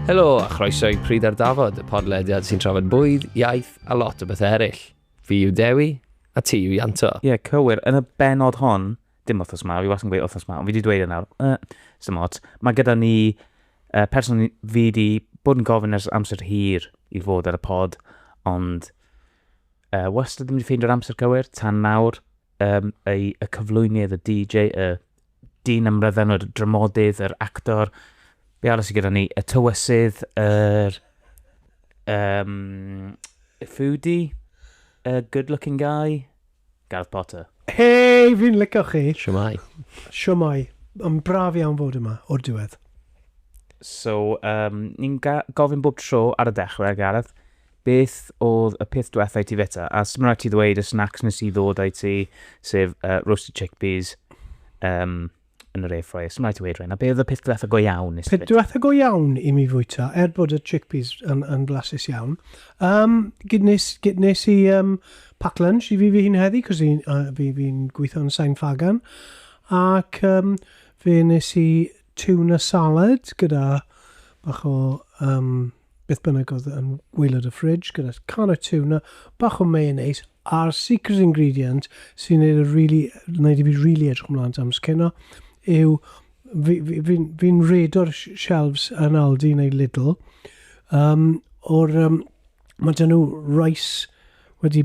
Helo a chroeso i Pryd ar Dafod, y podlediad sy'n trafod bwyd, iaith a lot o bethau eraill. Fi yw Dewi, a ti yw Ianto. Ie, yeah, cywir. Yn y benod hon, dim wythnos ma, fi wastad yn gweud wythnos ma, ond fi wedi dweud e nawr, uh, sy'n ots. Mae gyda ni uh, person fi wedi bod yn gofyn ers amser hir i fod ar y pod, ond uh, wastad ddim wedi ffeindio'r amser cywir, tan nawr, um, y, y cyflwynydd, y DJ, y dyn ymrydden, y dramodydd, yr actor, be arall sydd gyda ni, y tywysydd, yr um, foodie, y good looking guy, Gareth Potter. Hei, fi'n licio chi! Shwmae. Shwmae. Mae'n braf iawn fod yma, o'r diwedd. So, um, ni'n gofyn bob tro ar y dechrau, Gareth, beth oedd y peth diwethaf i ti feta? A sy'n rhaid ti ddweud y snacks nes i ddod i ti, sef uh, roasted chickpeas, um, yn yr airfryer, sdim rhaid ti weud rhaid, na be oedd y peth diwetha go iawn nes Peth diwetha go iawn i mi fwyta, er bod y chickpeas yn, yn flasus iawn. Um, gyd nes, gyd nes i um, pack lunch i fi fi hyn heddi, cos fi'n uh, fi, fi gweithio yn Sain Fagan. Ac um, fe nes i tuna salad gyda bach o um, Beth bynnag oedd yn waelod y fridge gyda can o tuna, bach o mayonnaise a'r secret ingredient sy'n gwneud y really, wneud i fi really edrych ymlaen am scenno yw fi'n fi, fi, fi redo'r shelves yn Aldi neu Lidl um, o'r um, mae dyn nhw rice wedi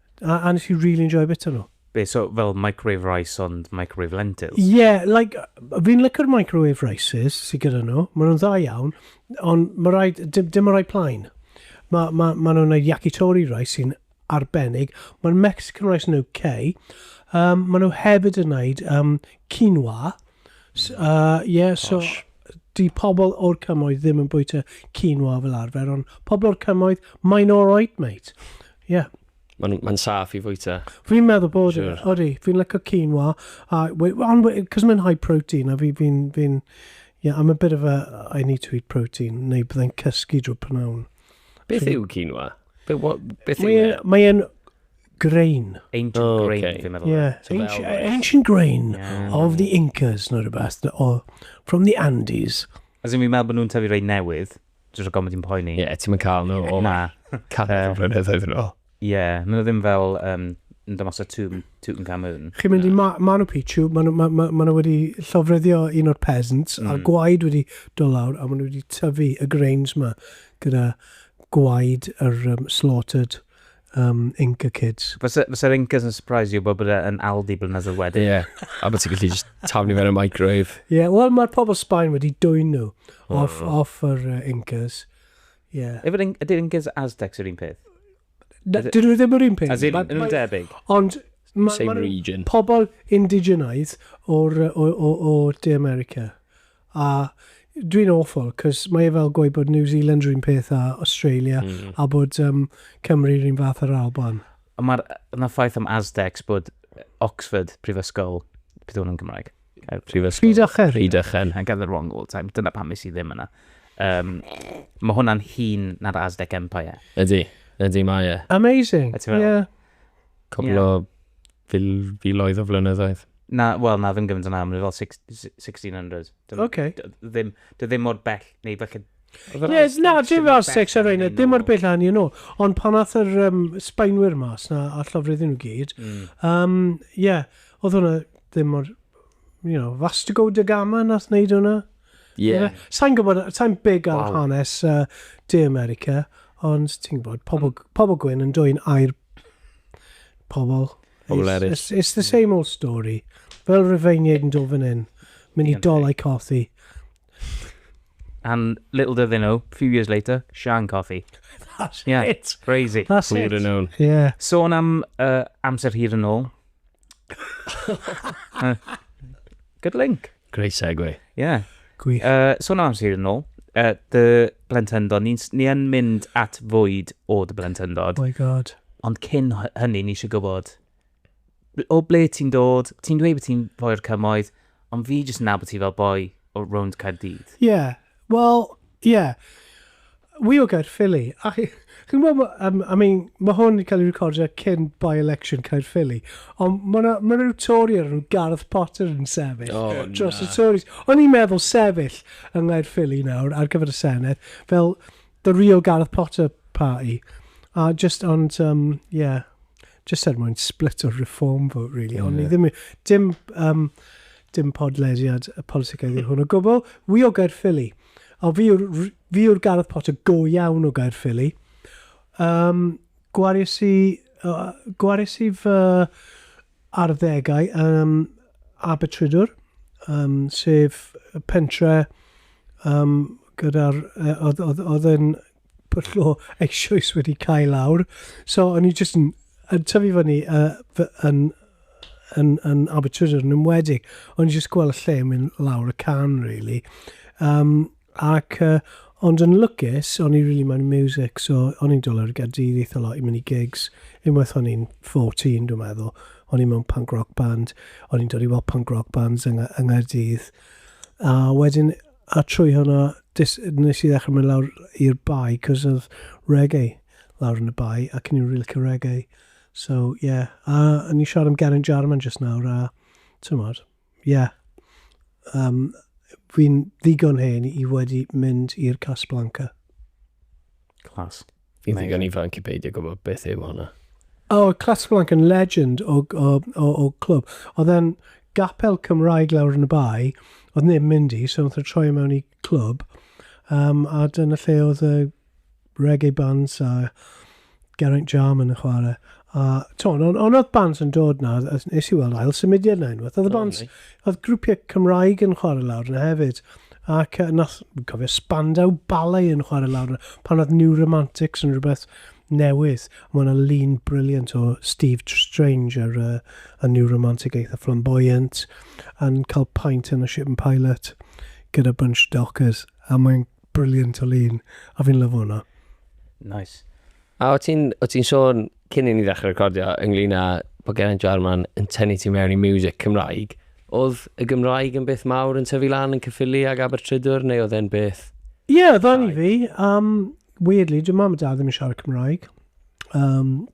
A, a nes i really enjoio bita nhw. Be, so fel microwave rice ond microwave lentils? Ie, yeah, like, fi'n licio'r microwave rices sydd gyda nhw, maen nhw'n dda iawn, ond mae rhaid, dim, dim o rai plaen. Mae ma, ma nhw'n gwneud yakitori rice sy'n arbennig, mae'r Mexican rice yn UK, um, maen nhw hefyd yn gwneud um, quinoa, So, uh, yeah, so, di pobl o'r cymoedd ddim yn bwyta quinoa fel arfer, ond pobl o'r cymoedd, mae'n alright, mate. Yeah. Mae'n ma saff i fwyta. Fi'n meddwl bod, sure. odi, fi'n lyco quinoa, uh, ond cos mae'n high protein, a fi'n, fi, fi yeah, I'm a bit of a, I need to eat protein, neu byddai'n cysgu drwy pnawn. Beth yw quinoa? Beth yw e? Mae'n Grain. Ancient oh, okay. grain, fi'n meddwl. Yeah, so ancient, ancient grain yeah. of the Incas, neu rhywbeth, or from the Andes. As in, fi'n meddwl bod nhw'n tyfu rei newydd, jyst o gomod i'n poeni. Ie, yeah, ti'n mynd cael nhw o Na. canol uh, flynyddoedd yn ôl. Ie, yeah, maen nhw ddim fel um, yn dod mas o Tŵm, Tŵm Camun. Chi'n mynd i ma Manu Pichu, maen nhw ma, ma, ma wedi llofreddio un o'r peasants, mm. a gwaed wedi dod lawr, a maen nhw wedi tyfu y grains ma gyda gwaed yr um, slaughtered um, Inca Kids. Fysa'r fysa Incas yn surprise you bod bod e yn Aldi blynyddoedd wedyn. Ie, yeah. a bod ti'n gallu just taflu fe'n y microwave. Ie, yeah, wel mae'r pobl Sbaen wedi dwy'n nhw oh. off, off yr uh, Incas. Ie. Yeah. Ydy'r Incas Aztecs yr un peth? Dyn nhw ddim yr un peth. As in, yn nhw'n debyg. Ond Same region. pobl indigenaidd o'r, o, o, o De America. A dwi'n awful, cos mae e fel gweud bod New Zealand rhywun peth a Australia, mm. a bod um, Cymru rhywun fath ar Alban. Ond mae'r yna ffaith am Aztecs bod Oxford, prifysgol, beth yw'n yn Gymraeg? Prifysgol. Rhydychen. Rhydychen, I gather wrong all time. Dyna pam is i ddim yna. Um, mae hwnna'n hun na'r Aztec Empire. Ydy, ydy mae e. Amazing, ie. Yeah. Cwbl o fil, filoedd o flynyddoedd. Na, wel, na, ddim gymaint yn aml, fel 1600. Dim, OK. Ddim, ddim mor bell, neu felly... Ie, na, dim fel 600, dim mor bell hynny yn ôl. Ond pan nath yr um, Sbaenwyr mas na, a llofrudd nhw gyd, ie, mm. um, yeah, oedd hwnna ddim mor, you know, Vastigo da Gama nath wneud hwnna. Yeah. Sa'n gwybod, sa'n big ar wow. hanes uh, De America, ond ti'n gwybod, pobl, um, pobl gwyn yn dwy'n air pobl. Pobl eraill. It's, it's the same old story. Fel Rufeiniaid yn dod fan hyn, mynd i dolau cothi. And little did they know, a few years later, Sian Cothi. That's yeah, it. Crazy. That's Clear it. Known. Yeah. Sôn am uh, amser hir yn ôl, Good link. Great segue. Yeah. Gwych. Uh, so na, sy'n yn ôl. Uh, dy blentyndod, ni'n ni yn mynd at fwyd o dy blentyndod. Oh my god. Ond cyn hynny, ni eisiau gwybod, o ble ti'n dod, ti'n dweud bod ti'n foi'r cymoedd, Ond fi jyst yn nabod ti fel boi o rownd Caerdydd. Ie, wel, ie. Wi o Gaerffili, a chi, chi'n gwybod, ma- yym, I mean, ma' hwn yn cael ei recordio cyn by-election Caerffili, ond ma' 'na, ma' 'na ryw Tory o'r enw Gareth Potter yn sefyll O, dros y na. Tories. O'n i'n meddwl sefyll yng Nghaerffili nawr ar gyfer y Senedd fel The real Gareth Potter party. A just, ond, um, yeah, just er mwyn split o'r reform vote, really. Ond ni ddim, dim, um, dim podlediad y politicaidd yw hwn o gwbl. Wi o Gaerffili. A fi yw'r Gareth Potter go iawn o Gaerffili. Um, gwaris i, uh, gwaris i fy arddegau ym Abertrudwr, yym, sef y pentre yym gyda'r yy oedd oedd oedd e'n pwll o eisoes wedi cau lawr. So o'n i jyst yn yn tyfu fyny yy fy- yn yn yn Abertrudwr yn enwedig. O'n i jyst gweld y lle yn mynd lawr y can rili. Yym. Ac yy ond yn lwcus o'n i rili moyn y miwsic so o'n i'n dod lawr i Gaerdydd eitha lot i mynd i gigs, unwaith o'n i'n fourteen dwi'n meddwl, o'n i mewn punk rock band, o'n i'n dod i weld punk rock bands yng yng Nghaerdydd, a wedyn a trwy hwnna des- nes i ddechre mynd lawr i'r Bae 'c'os o'dd reggae lawr yn y Bae ac o'n i'n rili licio reggae so ie a o'n i'n siarad am Geraint Jarman jyst nawr a t'mod Ie. Yym, fi'n ddigon hen i wedi mynd i'r Casablanca. Class. Fi'n ddigon ifanc i beidio gwybod beth yw hwnna. O, Casablanca yn legend o, o, o, o clwb. Oedd e'n gapel Cymraeg lawr yn y bae, oedd neb yn mynd i, so wnaethon nhw troi e mewn i clwb, um, a dyna lle oedd y reggae bands a Geraint Jarman yn chwarae. A t'mod, ond on oedd bands yn dod na, nes i weld ail symudiad na unwaith. Oedd y bands, oedd grwpiau Cymraeg yn chwarae lawr yna hefyd. Ac uh, nath, cofio Spandau Ballet yn chwarae lawr yna, pan oedd New Romantics yn rhywbeth newydd. Mae yna lun briliant o Steve Strange ar uh, a New Romantic eitha flamboyant, yn cael paint yn y Ship and Pilot gyda bunch dockers. A mae'n Brilliant o lun, a fi'n lyfo hwnna. Nice. A o ti'n ti sôn cyn i ni ddechrau recordio ynglyn â bod Geraint Jarman yn tynnu ti mewn i music Cymraeg, oedd y Gymraeg yn beth mawr yn tyfu lan yn cyffili ag Abertrydwr neu oedd e'n beth? Ie, yeah, dda ni fi. Um, weirdly, dwi'n mam a dad ddim yn siarad Cymraeg. Um,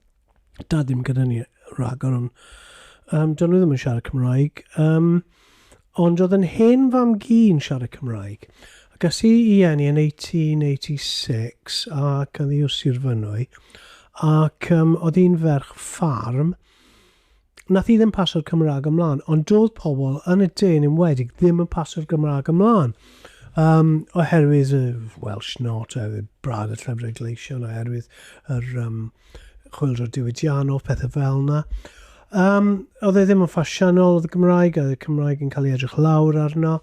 Da ddim gyda ni rhagor, ond um, dyn nhw ddim yn siarad Cymraeg. Um, ond oedd yn hen fam gi yn siarad Cymraeg. Ac as i i enni yn 1886 ac yn ddi o Sir Fynwy, ac um, oedd hi'n ferch ffarm, Nath hi ddim pasio'r Cymraeg ymlaen, ond doedd pobl yn y de yn enwedig ddim yn pasio'r Gymraeg ymlaen. Um, oherwydd y Welsh not, oherwydd brad y llyfrau gleision, oherwydd yr um, chwildro diwydiannol, pethau fel yna. Um, oedd e ddim yn ffasiynol, oedd y Gymraeg, oedd y Cymraeg yn cael ei edrych lawr arno.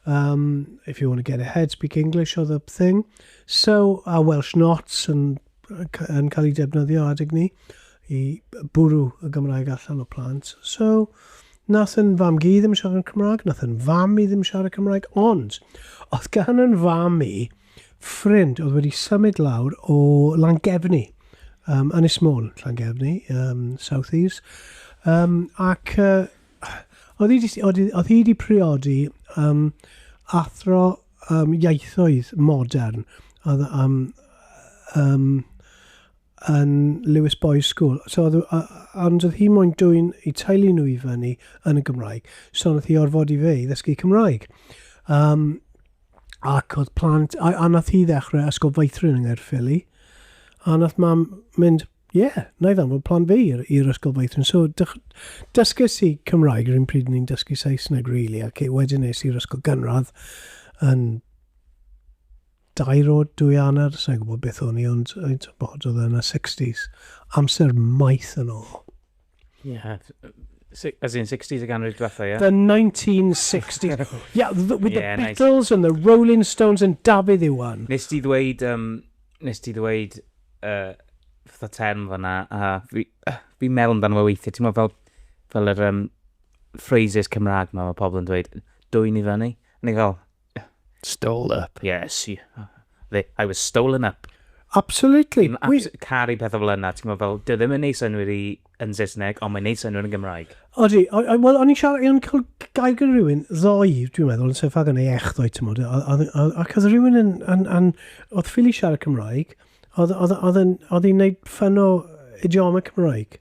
Um, if you want to get ahead, speak English, oedd y thing. So, a Welsh not, and yn cael ei defnyddio adeg ni i bwrw y Gymraeg allan o plant. So, nath yn fam gi ddim siarad Cymraeg, nath yn fam i ddim siarad Cymraeg, ond oedd gan yn fam i ffrind oedd wedi symud lawr o Langefni, um, Ynys Môn, Langefni, um, South Eves, um, ac uh, oedd hi wedi priodi um, athro um, ieithoedd modern, oedd um, um, yn Lewis Boys School. So, oedd, uh, ond oedd hi moyn dwy'n i teulu nhw i fyny yn y Gymraeg. So, oedd hi orfod i fe i ddysgu Cymraeg. Um, ac oedd plant, a, a nath hi ddechrau ysgol feithrin yng Nghaerffili. A nath mam mynd, Ie, wna i ddanfod plant fi i'r i'r ysgol feithrin. So dych- dysges i Cymraeg yr un pryd o'n i'n dysgu Saesneg rili ac e- wedyn es i'r ysgol gynradd yn dair o dwy anner, sa i'n gwybod beth o'n i ond yy tibod oedd e yn y sixties. Amser maith yn ôl. Yeah, as in 60s y ganrif diwetha, yeah? The 1960s. yeah, the, with yeah, the Beatles nice. and the Rolling Stones and Dafydd Iwan. Nes ti ddweud, um, nes ti ddweud, uh, fatha term fanna, a uh, fi, uh, fi meddwl amdano fo weithiau, ti'n meddwl fel, fel yr um, phrases Cymraeg mae pobl yn dweud, dwy'n i fyny, neu fel, Stole up. Yes, they, I was stolen up. Absolutely. Dwi'n abs caru pethau fel yna, ti'n gwybod fel, dwi ddim yn neud synwyr i yn Saesneg, ond mae'n neud synwyr yn Gymraeg. Odi, wel, o'n i'n siarad, o'n cael gael gyda rhywun ddoi, dwi'n meddwl, yn sefyll yn ei ech ddoi, ti'n modd, ac oedd rhywun yn, yn, yn, oedd ffili siarad Cymraeg, oedd hi'n neud ffyn o idioma Cymraeg.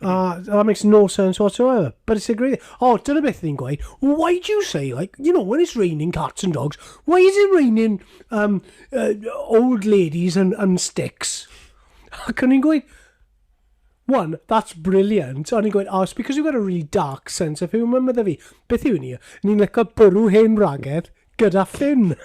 Ah, that makes no sense whatsoever. But it's a great... Oh, dyna beth ni'n gweud. Why do you say, like, you know, when it's raining cats and dogs, why is it raining um, uh, old ladies and, and sticks? Ac o'n i'n gweud, one, that's brilliant. O'n i'n gweud, oh, it's because you've got a really dark sense of humour, medda fi. Beth yw ni? Ni'n lyco bwrw hen wragedd gyda Finn.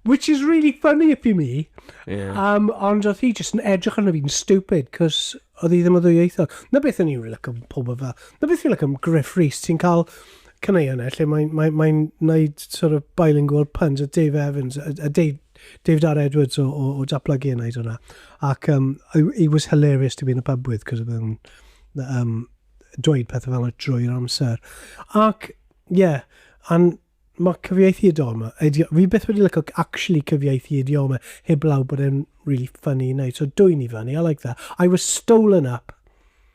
Which is really funny if you me. Yeah. Um, ond oedd hi jyst yn edrych arno fi'n stupid, cos oedd hi ddim o ddwyieithog. Na beth o'n i'n really like am pob yma. Na beth o'n i'n like am Griff Rhys, ti'n cael caneuon e, lle mae'n mae, mae wneud sort of bilingual puns a Dave Evans, a, a Dave, David R Edwards o, o, o Daplygu yn wneud hwnna. Ac um, he was hilarious to be in the pub with, cos oedd yn um, dweud pethau fel yna drwy'r amser. Ac Ie, and mae cyfieithu idioma, idio- fi byth wedi licio c- actually cyfieithu idioma heblaw bod e'n really funny i wneud. So dwyn i fyny, I like that. I was stolen up.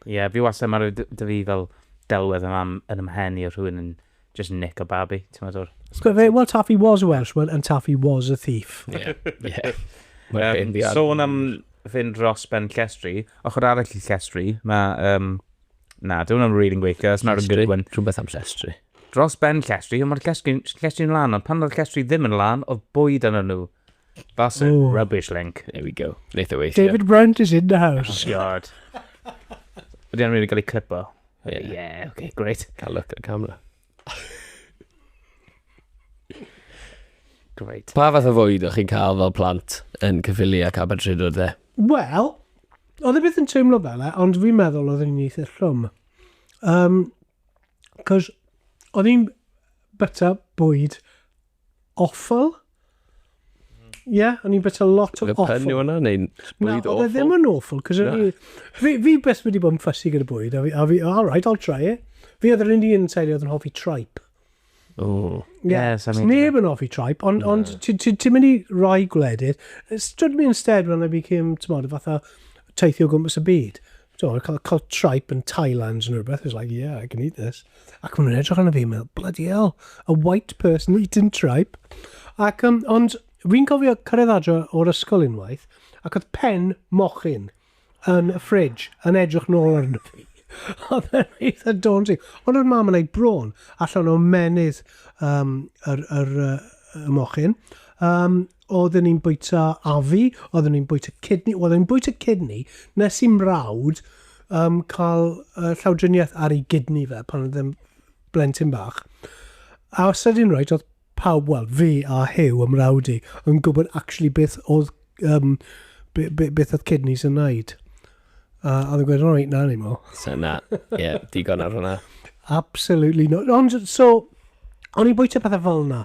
Ie, fi wastad, mae rhyw d- da fi fel delwedd yn am yn ymhen i o rhywun yn just nick a babi, ti'n meddwl o'r But ysbyty. fe, well, Taffy was a Welsh one and Taffy was a thief. Ie. Ie. Mae'n Yym, hen ddiad. Sôn am fynd dros ben llestri, ochr arall i llestri, mae um, Na, dyw hwnna'n rili'n gweithio, that's not a good one. Rhywbeth am llestri. Dros ben llestri, ond mae'r llestri'n lan, ond pan oedd llestri ddim yn lan, oedd bwyd yn nhw. That's a Ooh. rubbish link. There we go. Wneud o weithio. David Brent is in the house. Oh, God. Ydy anna'n mynd i gael ei clipo? Yeah. Yeah, okay, great. Cael look at camera. Great. Pa fath o fwyd o'ch chi'n cael fel plant yn cyfili ac Abertridwr dde? Wel, oedd e beth yn teimlo fel e, ond fi'n meddwl oedd e'n eitha llwm. Um, Cos oedd hi'n byta bwyd Awful? Ie, yeah, o'n i'n byta lot o awful. Y pen yw yna, neu'n bwyd awful? Na, oedd e ddim yn awful, cos o'n i... Fi, fi beth wedi bod yn ffysi gyda bwyd, a fi, a fi, all right, I'll try it. Fi oedd yr un un teulu oedd yn hoffi tripe. Oh. Yeah. Yes, I mean... Neb yn hoffi tripe, ond no. on, ti'n mynd i rai gwledydd. Stood me instead when I became, ti'n modd, fatha teithio gwmpas y byd. So, cael, cael tripe yn Thailand yn rhywbeth, it's like, yeah, I can eat this. Ac maen nhw'n edrych arno fi, meddwl, bloody hell, a white person eating tripe. Ac, um, ond, fi'n cofio cyrraedd adro o'r ysgol unwaith, ac oedd pen mochyn yn y fridge yn edrych nôl arno fi. Oedd e'n eitha daunting. Ond oedd mam yn ei bron allan o menydd um, yr, yr, yr, y mochyn. Um, Oedden ni'n bwyta afu, oedden ni'n bwyta cydni, oedden ni'n bwyta cydni, nes i mrawd um, cael uh, llawdriniaeth ar ei gydni fe pan oedd yn blentyn bach. A os ydyn rhaid, oedd pawb, wel, fi a Hew ym mrawd i, yn gwybod actually beth oedd, um, be, be, beth oedd kidneys yn wneud. A oedd yn gweud, all right, na ni mo. So na, ie, yeah, digon ar hwnna. Absolutely not. Ond, so, o'n i'n bwyta pethau fel yna.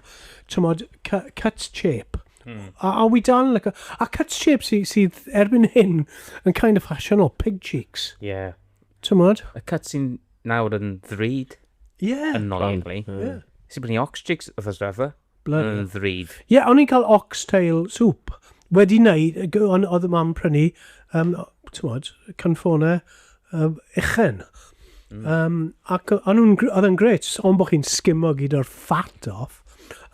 Tymod, cut shape. Hmm. A, a wy dal yn lyco. A cut shape sydd sy erbyn hyn yn kind of fashion o pig cheeks. Ie. Yeah. Tymod? Y cut sy'n nawr yn ddrud. Ie. Yeah. Yn nol, actually. Ie. Yeah. Sy'n brynu ox cheeks, oedd ysgrifau. Bloody hell. Yn ddrud. Ie, o'n i'n cael oxtail soup. Wedi wneud, g- on- oedd y mam prynu, um, tymod, canfonau um, uchen. Um, ac o- o'n nhw'n gr- oedd yn gret, ond bod chi'n sgimo gyd o'r fat off.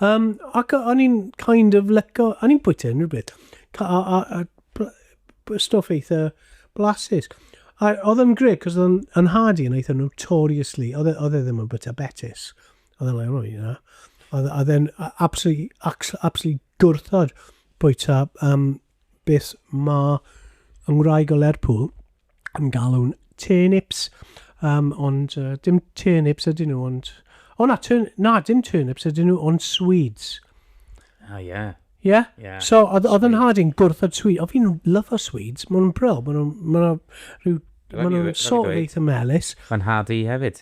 Um, ac o- o'n i'n kind of leco, o'n i'n bwyta unrhyw beth. Ca- A, a, a bl- b- stwff eitha blasus. A oedd yn gret, cos oedd yn, yn hardy yn eitha notoriously, oedd e oedd e ddim yn bwyta betis. Oedd e'n like, oh, you know. Oedd oedd e'n a- absolutely, acs- absolutely gwrthod bwyta um, beth mae yng Ngwraig o Lerpwl yn galw'n turnips. Um, ond uh, dim turnips ydyn nhw, ond... O na, turn, na, dim turnips ydyn nhw, ond swedes. Ah, ie. Ie? Yeah. So, oedd oedd yn Swedes. hard i'n gwrthod swedes. O, fi'n lyfo swedes. Mae nhw'n bro. Mae nhw'n... Mae nhw'n rhyw... Rhaid Mae fi- rhaid nhw'n fi sort of dweud. eitha melus. Mae'n hard i hefyd.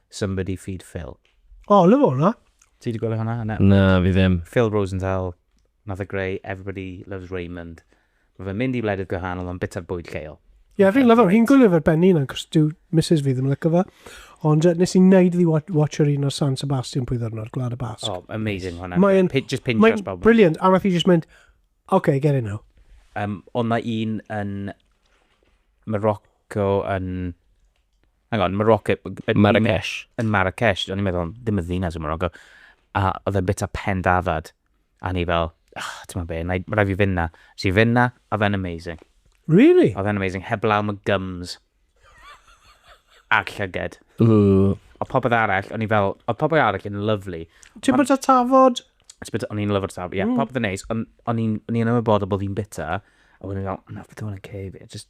Somebody feed Phil. O, lyfo hwnna. Ti di gwylio hwnna? Na. Na, fi ddim. Phil Rosenthal, nath e greu Everybody Loves Raymond. Mae fe'n mynd i wledydd gwahanol ond bita'r bwyd lleol. Ie, yeah, fi'n lyfo. Fi'n gwylio fe benni yna, cos dyw Mrs fi ddim yn lyco fe. Ond uh, nes i'n neud iddi watch yr un o'r San Sebastian pwy ddyrno, ar Gwlad y Basg. Oh, amazing hwnna. Mae'n just pinch Mae'n brilliant, a nath i just mynd, OK, get it now. Um, ond mae un yn Morocco yn Hang on, Morocco... Marrakesh. Yn Marrakesh, o'n i'n meddwl, ddim y ddinas yn Morocco. A oedd e'n bita pen dafad. A ni fel, oh, ti'n meddwl be, mae rai fi fynd na. Si fynd na, a fe'n amazing. Really? Oedd e'n amazing, heb law mae gums. A'r llyged. Ooh. O popeth arall, o'n i fel, o popeth arall yn lovely. Ti'n bod o tafod? O'n i'n lyfr tafod, ie, mm. popeth yn neis. O'n i'n ymwybodol bod fi'n bita. A o'n i'n fel, na, beth o'n i'n cei fi. Just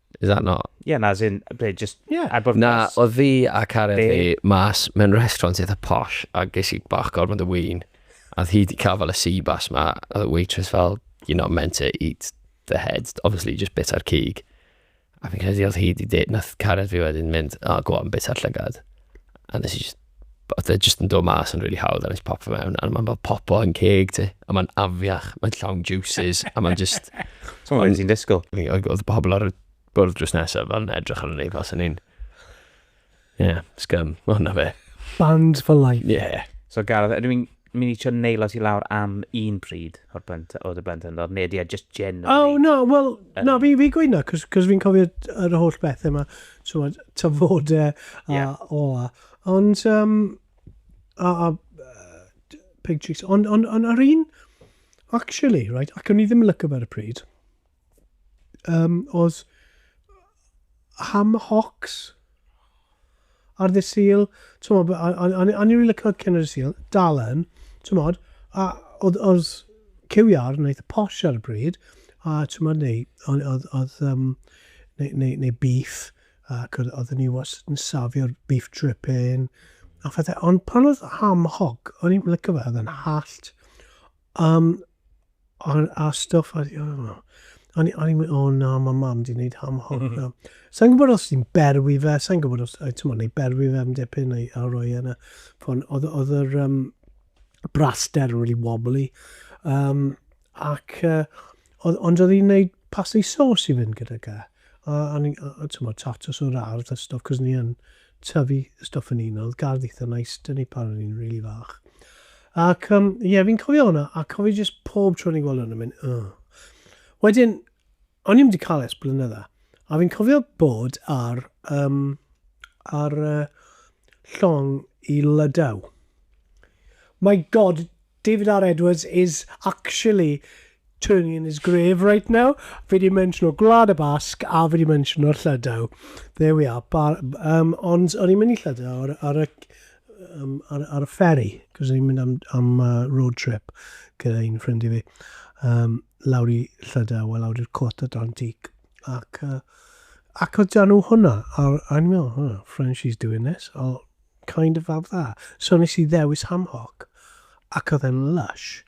Is that not? Ie, na, as in, be, just... Ie. Ar bwrpas. Na, oedd fi a Karen Be? fi mas mewn restaurant eitha posh a ges i bach gormod o win. A oedd hi wedi cael fel y sea bass ma. A oedd y waitress fel, you're not meant to eat the head. Obviously, just bit ar cig. A fi'n credu oedd hi wedi dweud, nath Karen fi wedyn mynd, oh, go on, bit ar llygad. A nes i just oedd e jyst yn dod mas yn rili really hawdd a nes pop fe mewn, a mae'n fel popo yn ceg ti, a mae'n afiach, mae'n llawn juices, a mae'n just... So mae'n sy'n disgwyl. Oedd pobl ar y bwrdd drws nesaf fel yn edrych ar ni fel sy'n un. Ie, yeah, scum, mae hwnna fe. Band for life. Ie. Yeah. So Gareth, ydw i'n Mi'n i trio neilo ti lawr am un pryd o'r blent, o dy blentyndod, neu ydy e just generally? Oh, no, wel, um, na, fi, fi gweud na, cos, cos fi'n cofio yr holl bethau yma, so, tyfodau a yeah. ola. Ond, um, a, a uh, pig cheeks, ond on, on, ar un, actually, right, ac o'n i ddim yn lyco ar y pryd, Yym, oes ham hocks ar ddydd Sul, t'mod, a, a, a, a ni rili licio cyn ar y Sul, dal yn, t'mod, a oedd, oedd cywiar yn eitha posh ar y bryd, a t'mod, neu, oedd, oedd, oedd um, neu, neu, neu beef, ac oedd, oedd ni wastad yn safio'r beef dripping, a phethau, ond pan oedd ham hog, o'n i'n licio fe, oedd yn hallt, Am ar a stwff ar you know. O'n i o'n i'n mynd, o na, mae mam di wneud ham hoc na. Sa'n gwybod os ti'n berwi fe, sa'n gwybod os, ti'n mwyn, neu berwi fe am dipyn, neu a roi e yna. Fon, oedd, oedd yr um, braster really wobbly. Um, ac, uh, oedd, ond oedd hi'n gwneud pasta i sos i fynd gyda ga. A, a, a ti'n mwyn, tatos o'r ardd a stwff, cos ni yn tyfu stwff yn un, oedd gardd eitha nice dyn ni pan o'n i'n rili fach. Ac ie, um, yeah, fi'n cofio hwnna, a cofio jyst pob tro ni'n gweld hwnna, mynd, oh. Wedyn, o'n i'n wedi cael es blynydda, a fi'n cofio bod ar, um, ar uh, llong i lydaw. My god, David R Edwards is actually turning in his grave right now. Fi di mentiono Gwlad y Basg a fi di mentiono Llydaw. There we are. Bar, um, ond o'n i'n mynd i Llydaw ar, ar, y, um, ar, ar y ferry, cos o'n i'n mynd am, am uh, road trip gyda un ffrind i fi. Um, lawr i Llydaw, a lawr i'r cwrt Atlantic. Ac, uh, ac oedd nhw hwnna, a o'n i'n meddwl, oh, French, she's doing this. Oh, Kind of fab dda. So nes i ddewis Ham Hock ac oedd e'n lush.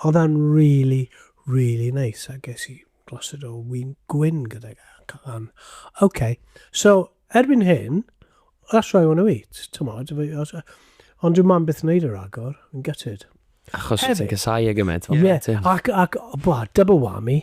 Oedd e'n really, really nice a ges i glosed o win gwyn gydag e. Cyfan. OK. So, erbyn hyn, that's what I want to eat. Tymod, ond dwi'n mam byth yn neud yr agor. Yn gutted. Achos ti'n cysau e gymaint. Ie, ac, ac, bwa, double whammy.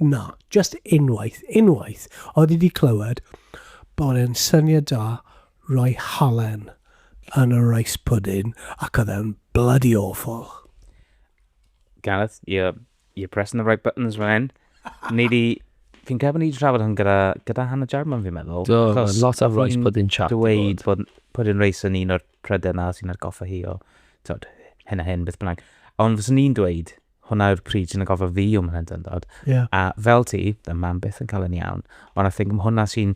Na, jyst unwaith, unwaith, oedd i fi clywed bod e'n syniad da rhoi halen yn y rice pudding ac oedd e'n bloody awful. Gareth, you're, you're pressing the right buttons fan hyn. Ni di... Fi'n credu bod ni wedi trafod hwn gyda, gyda Hannah Jarman, fi'n meddwl. Do, achos lot of rice pudding chat. Dweud bod pudding rice yn un o'r prydau na sy'n atgoffa hi o, tod, hyn a hyn, beth bynnag. Ond fyswn ni'n dweud, hwnna yw'r pryd sy'n atgoffa fi o mhlentyndod. Yeah. A fel ti, dy mam byth yn cael yn iawn, ond I think hwnna sy'n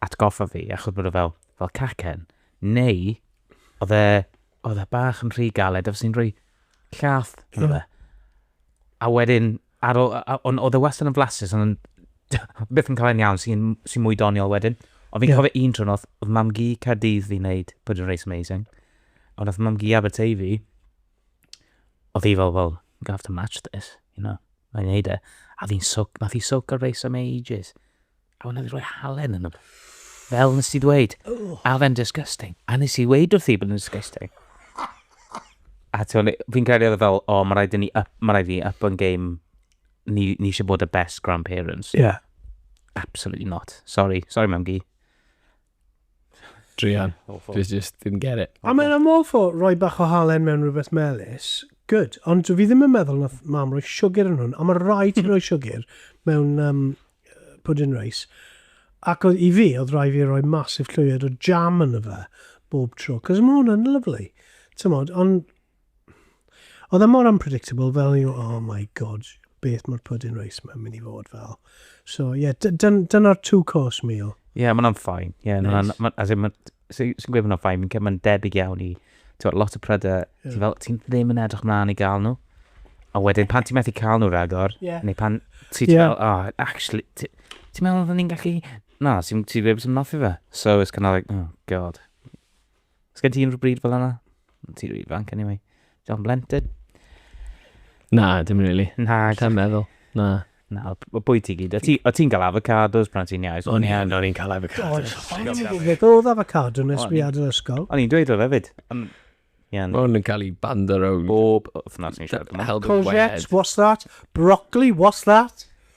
atgoffa fi, achos bod o fel, fel cacen, neu oedd e, oedd e bach yn rhy galed, oedd sy'n rhoi llath yn yeah. A wedyn, ar ôl, ond oedd e wastad yn flasus, ond byth yn cael yn iawn, sy'n sy mwy doniol wedyn. Ond fi'n yeah. cofio un trwy'n oedd, oedd mam gi Caerdydd fi'n neud, Pwyd yn Reis Amazing. Ond oedd mam gi Aberteifi, oedd hi fel, well, I'm gonna have to match this, you know. Mae'n neud e. A fi'n soc, nath hi soc ar reis am ages. A wnaeth hi roi halen yn y... Fel nes ti ddweud. A fe'n disgusting. A nes i ddweud wrth i bod yn disgusting. A ti'n fi'n credu oedd e fel, o, oh, mae rhaid i ni, up, mae rhaid i ni up on game. Ni, ni eisiau bod y best grandparents. Yeah. Absolutely not. Sorry. Sorry, mam gi. Drian. Awful. Just, just didn't get it. I mean, I'm all for roi bach o halen mewn rhywbeth melus. Good. Ond dwi ddim yn meddwl nath mam roi siwgr yn hwn. A mae rai ti roi siwgr mewn um, pudding rice. Ac oedd i fi, oedd rai fi roi masif llwyed o jam yn y fe bob tro. Cos mae hwn yn lyflu. Tymod, ond Oedd e mor unpredictable fel you, oh my god, beth mae'r pudding rice mae'n mynd i fod fel. So, ie, yeah, dyna'r two course meal. Ie, yeah, mae'n ffain. Ie, yeah, nice. ma, as in, sy'n so, gweud mae'n ffain, fi'n cael mae'n debyg iawn i, ti'n lot o prydau, yeah. ti'n fel, ti'n ddim yn edrych mlaen i gael nhw. A wedyn, pan ti'n methu cael nhw ragor, yeah. neu pan ti'n yeah. fel, oh, actually, ti'n meddwl oedden ni'n gallu, na, ti'n ti ddim yn noffi fe. So, it's kind of like, oh, god. Os gen ti unrhyw bryd fel yna? Ti'n rhi fanc anyway. John Blenton. Na, dim really. Na. Lla'n meddwl. Na. Na, o bwy ti gyd. O ti'n cael avocados pan ti'n iau? O'n i'n o'n i'n cael avocados. O'n i'n gwybod oedd avocado nes fi adrodd ysgol. O'n i'n dweud o lefyd. Mae hwn yn cael ei bando rownd. Bob wythnos ni'n siarad yma. Courgette, what's that? Broccoli, what's that?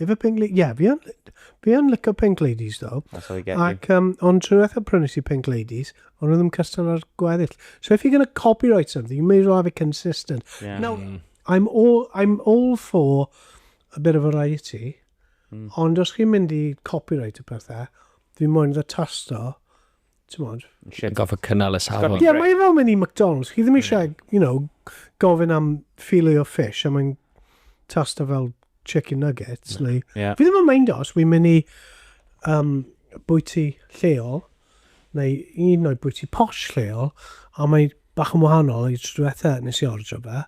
Efe Pink Ladies? Ie, yeah, fi yn, fi yn licio Pink Ladies, ddo. That's how I get Ac, um, ond trwy eithaf prynu si Pink Ladies, ond oedd yn cystal ar gweddill. So if you're going to copyright something, you may as well have it consistent. Yeah. Now, mm. I'm, all, I'm all for a bit of variety, mm. ond os chi'n mynd i copyright y pethau, fi moyn dda tasto Tymod. Eisiau gofio cynnal y safon. Ie, yeah, mae fel mynd i McDonald's. Chi ddim eisiau, you know, gofyn am filet o fish a mae'n tasta fel chicken nuggets. Neu... Yeah. Fi ddim yn mynd os, fi'n mynd i um, bwyty lleol, neu un o'i bwyty posh lleol, a mae bach yn wahanol i trwyetha nes i ordro fe.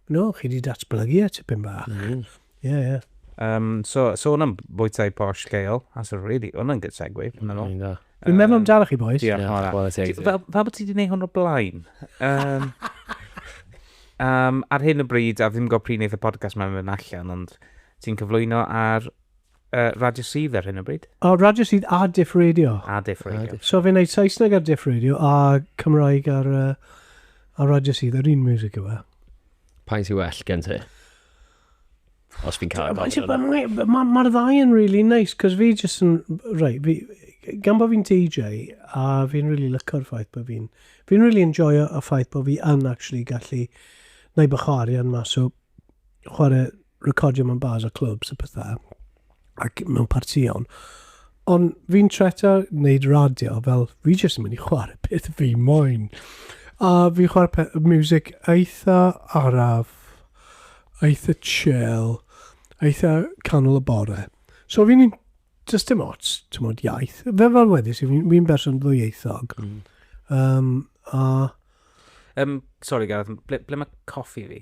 No, chi di datblygu e tipyn bach. Mm. Yeah, yeah. Um, so, sôn am bwytai posh lleol, that's a really, hwnna yn good segue, fi'n meddwl. Mm, yeah. Fi'n meddwl am dal chi, boys. Diolch, yeah, Mora. Fel, fel bod ti wedi gwneud hwn o blaen. Um, um, ar hyn y bryd, a ddim gwybod pryd wneud y podcast mae'n mynd allan, ond ti'n cyflwyno ar Uh, radio sydd ar hyn o bryd? O, radio sydd a diff radio. A diff radio. So fi'n neud Saesneg ar diff radio a Cymraeg ar, uh, ar radio sydd ar un music yw e. Pa'n sy'n well gen ti? Os fi'n cael gofyn yna. Mae'r ma, ma ddau yn really nice, cos fi jyst yn... Right, fi, gan bod fi'n DJ, a fi'n really lyco'r ffaith bod fi'n... Fi'n really enjoy y ffaith bod fi yn actually gallu neud bych o arian mas o chwarae recordio mewn bars a clwbs a pethau, ac mewn partïon. Ond fi'n treto wneud radio fel fi jyst yn mynd i chwarae peth fi moyn. A fi chwarae peth, music eitha araf, eitha chill, eitha canol y bore. So fi'n un, just dim ots, ti'n modd iaith. Fe fel wedys, fi'n fi berson ddwyieithog. Mm. Um, a... Um, sorry Gareth, ble, ble mae coffi fi?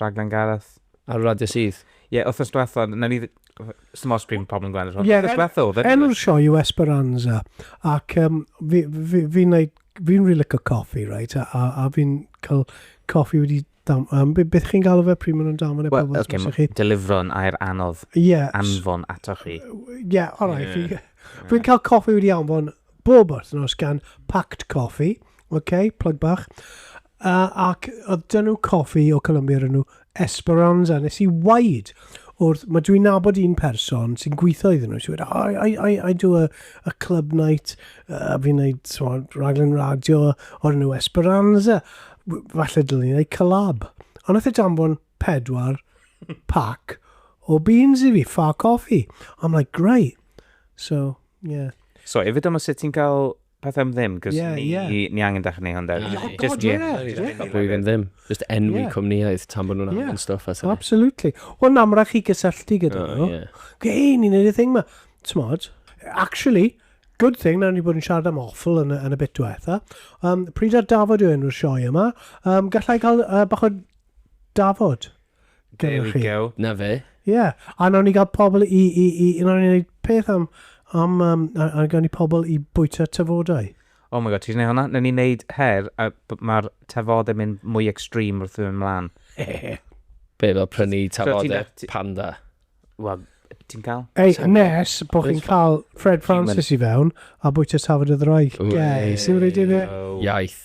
rhaglen Gareth. Ar y radio syth? Ie, wythnos diwetha, na ni... Sdim ots pryd mae pobl yn gweld e, wythnos diwetha oedd e. Enw'r sioe yw Esperanza, ac um, fi'n fi, fi, fi, fi, fi really licio coffi, right? A, a, a fi'n cael coffi wedi Dam, um, beth chi'n galw fe pryd maen nhw'n damfon e well, pobl okay, chi? Delifro'n air anodd yes. anfon ato chi. Ie, yeah, all right. Yeah. Fi'n fi cael coffi wedi anfon bob wythnos gan Pact Coffi, okay, plug bach. Uh, ac oedd dyn nhw coffi o Colombia yn nhw Esperanza. Nes i waid wrth, mae dwi'n nabod un person sy'n gweithio iddyn nhw. Si'n wedi, I, I, I, I do a, a club night, uh, fi'n gwneud so, raglen radio o'r nhw Esperanza. Falle dylwn i'n gwneud collab. Ond oedd e danfon pedwar pac o beans i fi, ffa coffi. I'm like, great. So, yeah. So, efo dyma sut ti'n cael peth am ddim, cos yeah, ni, yeah. ni angen dechrau ni hwn dweud. Oh, God, just, yeah. yeah. yeah. yeah. Pwy ddim ddim. Just enwi yeah. cwmnïaeth tan bod nhw'n yeah. angen stuff. As Absolutely. Wel, na, mae'n rhaid chi gysylltu gyda oh, nhw. Yeah. Gei, ni'n edrych thing ma. Tmod, actually, good thing na ni bod yn siarad am awful yn, yn y bit diwetha. Um, pryd ar Dafod yw enw'r sioe yma. Um, gallai cael uh, bach o Dafod. There we go. Na fe. Ie, yeah. a nawn ni gael pobl i, i, i, i nawn ni wneud peth am, am, um, a, a gawn ni pobl i bwyta tyfodau. Oh my god, ti'n gwneud hwnna? Nawn ni wneud her, a mae'r tafod yn mynd mwy extreme wrth yn mlaen. Be, fel prynu tafodau so, panda? Wel, ti'n cael? Ei, nes bod chi'n cael Fred Francis i fewn a bwyta tafod y ddroig. Ie, sy'n rhaid i fe? Iaith.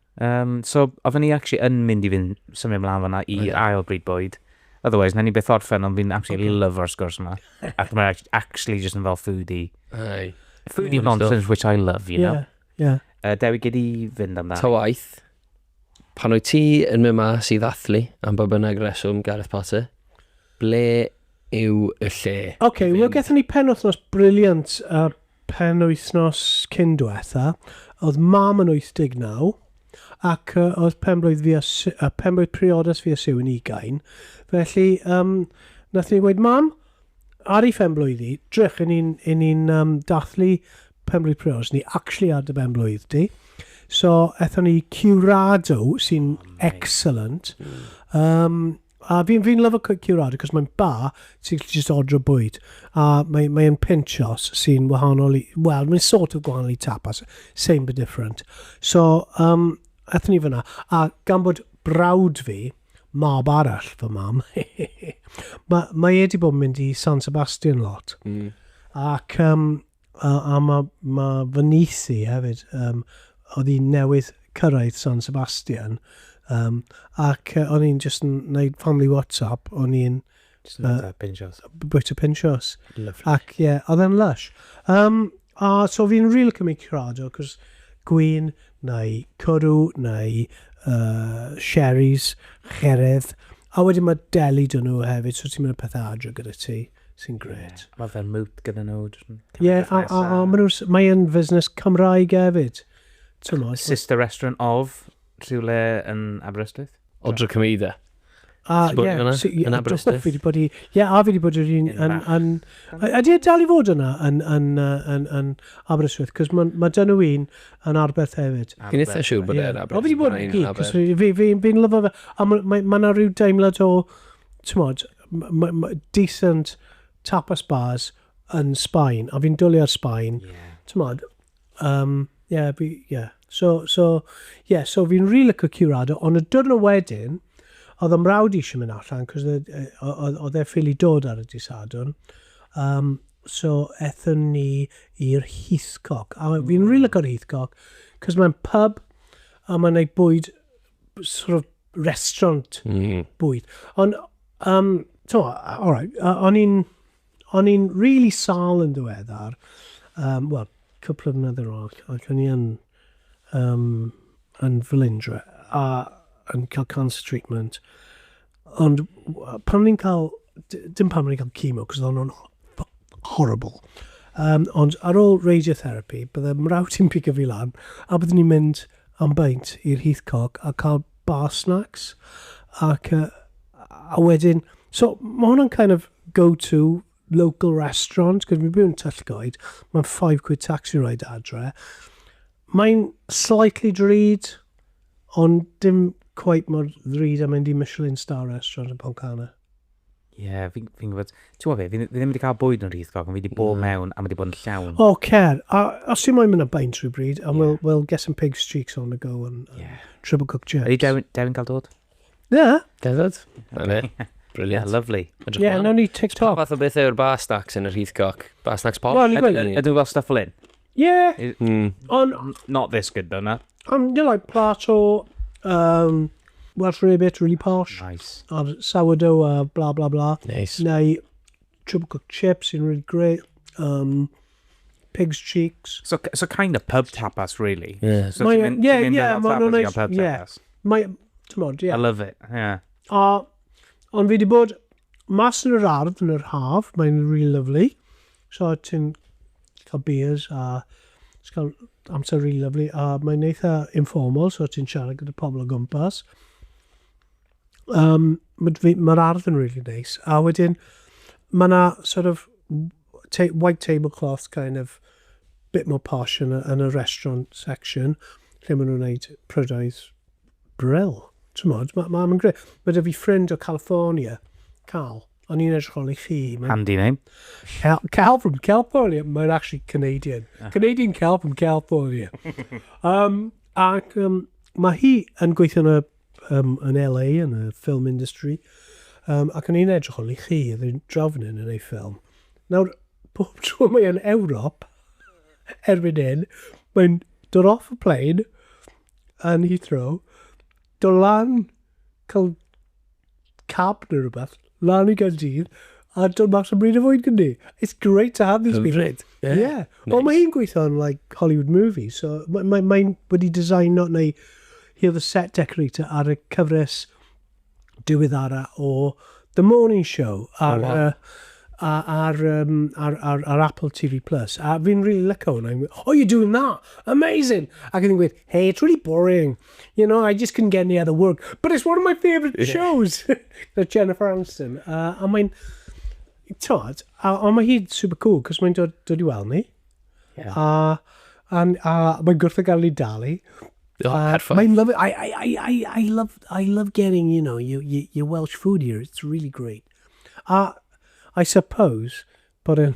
Um, so, oedden ni actually yn mynd i fynd symud ymlaen fanna i okay. ail bryd bwyd. Otherwise, na ni beth orffen, ond fi'n actually okay. love o'r sgwrs yma. Ac mae'n actually just yn fel foodie. Aye. Foodie yeah, nonsense, which I love, you know. Yeah, yeah. Uh, Dewi, gyd i fynd amdano. Ta waith, pan wyt ti yn mynd mas i ddathlu am bob yna greswm Gareth Potter, ble yw y lle? OK, well, gethon ni pen wythnos briliant uh, Penwythnos cyn dwetha, oedd Mam yn 89, ac oedd penblwydd fi a Su-, yy penblwydd priodas fi a Sue yn ugain, felly yym nathon ni gweud, Mam, ar 'i phenblwydd 'i, drych, 'yn ni'n, 'yn ni'n yym dathlu penblwydd priodas ni, actually ar dy benblwydd di. So, ethon ni i Curado, sy'n excellent, yym A fi'n fi lyfo curado, cos mae'n ba, ti'n gallu just ordro bwyd. A mae, mae yn pinchos sy'n wahanol i... Wel, mae'n sort of gwahanol i tapas. Same but different. So, um, athyn ni fyna. A gan bod brawd fi, mab arall fy mam, mae, mae e wedi bod yn mynd i San Sebastian lot. Mm. Ac um, A, a mae, mae fy nyth i hefyd, um, oedd hi newydd cyrraedd San Sebastian, um, ac uh, o'n i'n just yn gwneud family WhatsApp, o'n i'n... Just yn uh, bwyta pinchos. Bwyta pinchos. Lovely. Ac ie, yeah, oedd e'n lush. Um, a so fi'n rili really cymryd crado, cos gwyn, neu cwrw, neu uh, sherries, cheredd, a wedyn mae deli dyn nhw hefyd, so ti'n mynd y pethau adre gyda ti. Sy'n grêt. Ie, mae fel moot gyda nhw. Ie, a, a, a maen nhw, mae yn fusnes Cymraeg hefyd. Tymod. Sister Restaurant of, rhywle yn Aberystwyth. Odra Cymeida. A, ie, yn Aberystwyth. Fi wedi bod i, ie, a fi wedi bod i'r un, yn, yn, ydy e dal i fod yna yn, yn, yn, yn Aberystwyth, cos mae ma dyn nhw un yn Arbeth hefyd. Fi'n eitha siw bod e'n Aberystwyth. O, fi wedi bod i gyd, cos fi'n lyfo fe, a mae yna rhyw deimlad o, tymod, decent tapas bars yn Sbaen, a fi'n dwlu ar Sbaen. Yeah. Tymod, um, yeah, fi, yeah. So, so, yeah, so fi'n rili really licio curado, ond y diwrnod wedyn, oedd am rawd eisiau mynd allan, cos oedd e ffili dod ar y disadwn. Um, so, ethon ni i'r Heathcock. A fi'n rili really mm. licio Heathcock, cos mae'n pub, a mae'n ei bwyd sort of restaurant mm. bwyd. Ond, um, to, all right, uh, o'n i'n, o'n i'n really sal yn ddiweddar, um, well, cwpl o fnyddoedd ôl, ac o'n i'n um, yn Felindra, a yn cael cancer treatment. Ond pan ni'n cael, dim pan ni'n cael chemo, cos oedd nhw'n horrible. Um, ond ar ôl radiotherapy, bydde mrawd i'n pigo fi lan, a byddwn ni'n mynd am baint i'r Heathcock a cael bar snacks. Ac, uh, a wedyn, so mae hwnna'n kind of go-to local restaurant, cos fi'n byw yn Tyllgoed, mae'n 5 quid taxi ride adre. Mae'n slightly drud, ond dim quite mor ddrud a mynd i Michelin Star Restaurant yn Poncana. Ie, yeah, fi'n fi gwybod. Ti'n gwybod fi, fi ddim wedi cael bwyd yn rhith gog, ond fi wedi bod mm. mewn a mae wedi bod yn llawn. O, oh, cer. A os ti'n moyn mynd am baint rhywbryd, and yeah. we'll, we'll get some pig's cheeks on the go and, and yeah. triple cook chips. Ydy Dewin, Dewin cael dod? Na. Deddod. Na fe. Brilliant. Yeah, lovely. Ie, yeah, nawn ni TikTok. Pa fath o beth yw'r bar snacks yn yr Heathcock? Bar snacks pop? Wel, Ydw fel stuff fel un? Yeah. Mm. On, Not this good though, na. Um, you like plato, um, Welsh rarebit, really posh. Nice. Or sourdough, uh, blah, blah, blah. Nice. Neu triple cooked chips sy'n really great. Um, Pigs cheeks. So, so kind of pub tapas, really. Yeah. So mae, ti'n yeah, mynd yeah, mae nhw'n neis. Pub yeah. tapas. Mae, ti'n modd, yeah. I love it, yeah. A, ond fi wedi bod mas yn yr ardd yn yr haf, mae'n really lovely. So ti'n cael beers a cael amser really lovely a mae'n eitha informal, so ti'n siarad gyda pobl o gwmpas. Um, Mae'r ardd yn really nice. A wedyn, mae yna sort of ta white tablecloth kind of bit more posh yn y, yn y restaurant section lle maen nhw'n gwneud prydoedd brill. Ti'n modd, mae'n ma, ma greu. Mae dy fi ffrind o California, Cal, o'n i'n edrych ôl i chi. Ma... Handy name. Cal, Cal from California, mae'n actually Canadian. Ah. Canadian Cal from California. um, ac um, mae hi yn gweithio yn y um, yn LA, yn y film industry, um, ac yn ein edrych ôl i chi, oedd yn drafnyn yn ei ffilm. Nawr, pob tro mae yn Ewrop, erbyn hyn, mae'n dod off y plane yn Heathrow, dod lan, cael cab neu rhywbeth, lan i Gaerdydd, a dod mas am bryd o fwyd gyda ni. It's great to have these people. Hyfryd, ie. Ie. Nice. Wel, mae hi'n gweithio yn, like, Hollywood movies, so mae mae mae'n wedi designo, neu hi oedd y set decorator ar y cyfres diweddara o The Morning Show ar, oh, wow. uh, ar, ar, um, ar, ar, ar Apple TV+. Plus. A fi'n really lyco hwnna. Oh, you're doing that? Amazing! Ac ydyn gweud, hey, it's really boring. You know, I just couldn't get any other work. But it's one of my favourite yeah. shows. Gyda Jennifer Aniston. Uh, a mae'n... Tod, a, a mae hi'n super cool, cos mae'n dod, dod i weld ni. Yeah. A, a, a mae'n gwrth o gael ei dalu. Oh, uh, perfect. Mae'n love it. I, I, I, I, I, love, I love getting, you know, your, your, your Welsh food here. It's really great. A, I suppose, Bod yn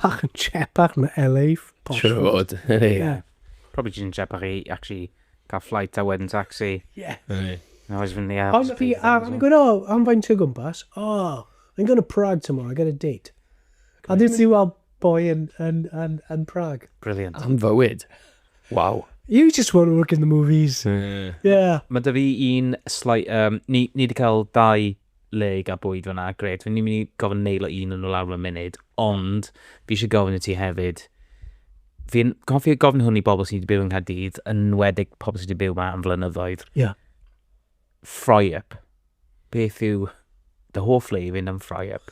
bach yn chepak na LA. Siwr o fod, ie. Probably jyst yn chepak i actually cael flight a wedyn taxi. Ie. Ond fi ar yn gwneud, oh, am faint o gwmpas? Oh, I'm going to Prague tomorrow, I got a date. A ddim ti weld boi yn Prague. Brilliant. Am fywyd. Wow. You just want to work in the movies. Yeah. Mae dy fi un slight... Um, ni, ni wedi cael dau le i gael bwyd fan'na, grêt. Fi'n mynd i gofyn neilo un o nhw lawr mewn munud, ond fi eisiau gofyn i ti hefyd, fi'n cofio gofyn hwn i bobl sydd wedi byw yng Nghaerdydd, yn enwedig pobl sydd wedi byw yma am flynyddoedd. Ie. Yeah. Fry up. Beth yw dy hoff le i fynd am fry up?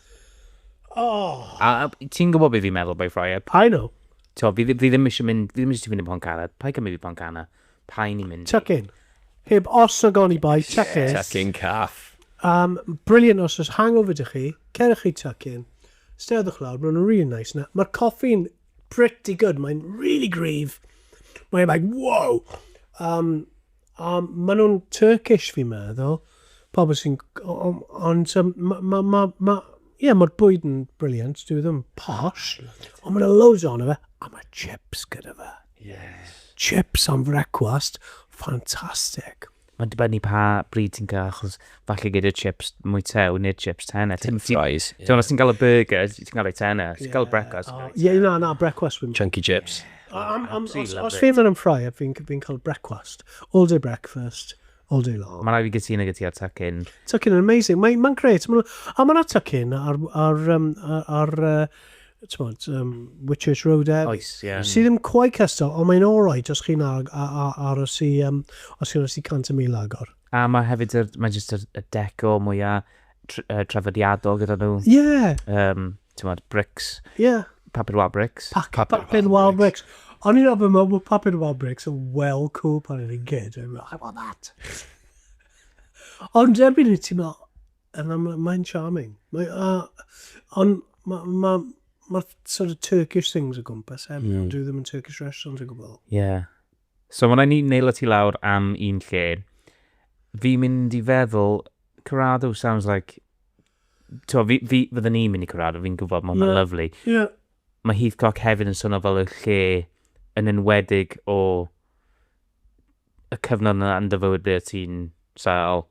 Oh. A, a ti'n gwybod beth fi'n meddwl by fry up? I know. So, fi, fi ddim eisiau mynd, fi ddim eisiau ti fynd i Pontcanna, pa i cymryd i Pontcanna? Paen i mynd i. Tucking. Heb os nag oni bai, tucking. Tucking caff. Um, brilliant os oes hangover dych chi, cerwch chi tucking, steddwch lawr, maen nhw'n really nice na. Mae'r coffi'n pretty good, mae'n really gryf. Mae'n like, wow! Um, um, maen nhw'n Turkish fi'n meddwl, pobl sy'n... Ond um, mae... Ma, ma, ma, yeah, mae'r bwyd yn brilliant, dwi ddim posh, ond mae'n loads o'n fe, a mae chips gyda fe. Yes. Chips am frecwast, ffantastig. Mae'n dibynnu pa bryd ti'n cael, achos falle gyda chips mwy tew neu'r chips tenna. Ti'n fries. Ti'n os ti'n cael y burger, ti'n cael ei tenna. Ti'n cael brecwast. Ie, na, na, brecwast. Chunky chips. Os fi'n mynd yn ffrai, fi'n cael brecwast. All day breakfast. All day long. Mae'n rhaid fi gytuno gyda ti ar Tuckin. Tuckin yn amazing. Mae'n ma gret. Ma a mae'n Tuckin ar, ar, um, ar, ar uh, tmod, um, Whitchurch Road e. Oes, ie. Yeah. Sydd ddim cwai cystal, ond mae'n all right os chi'n ar, ar, ar, ar os i, um, os chi'n os i 100 mil agor. A mae hefyd, yr, mae jyst y, y deco mwyaf tr uh, trafodiadol gyda nhw. Ie. Yeah. Um, tymod, brics. Ie. Yeah. Papur wal brics. Pa papur, papur wal brics. O'n i'n ofyn mewn bod papur wal brics yn well cool pan o'n i'n gyd. I want that. Ond erbyn i ti'n meddwl, yn amlwg, mae'n charming. Mae, uh, ond mae ma, ma sort of Turkish things o gwmpas, heb, mm. dwi ddim yn Turkish restaurants o gwbl. Ie. Yeah. So mae'n rhaid ni nail y tu lawr am un lle. Fi'n mynd i feddwl, Corrado sounds like... Tio, fi, fi, fydden ni'n mynd i Corrado, fi'n gwybod, mae hwnna'n yeah. lyflu. Yeah. Mae Heathcock hefyd yn swnio fel y lle yn enwedig o y cyfnod yna yn dyfywyd ble ti'n sael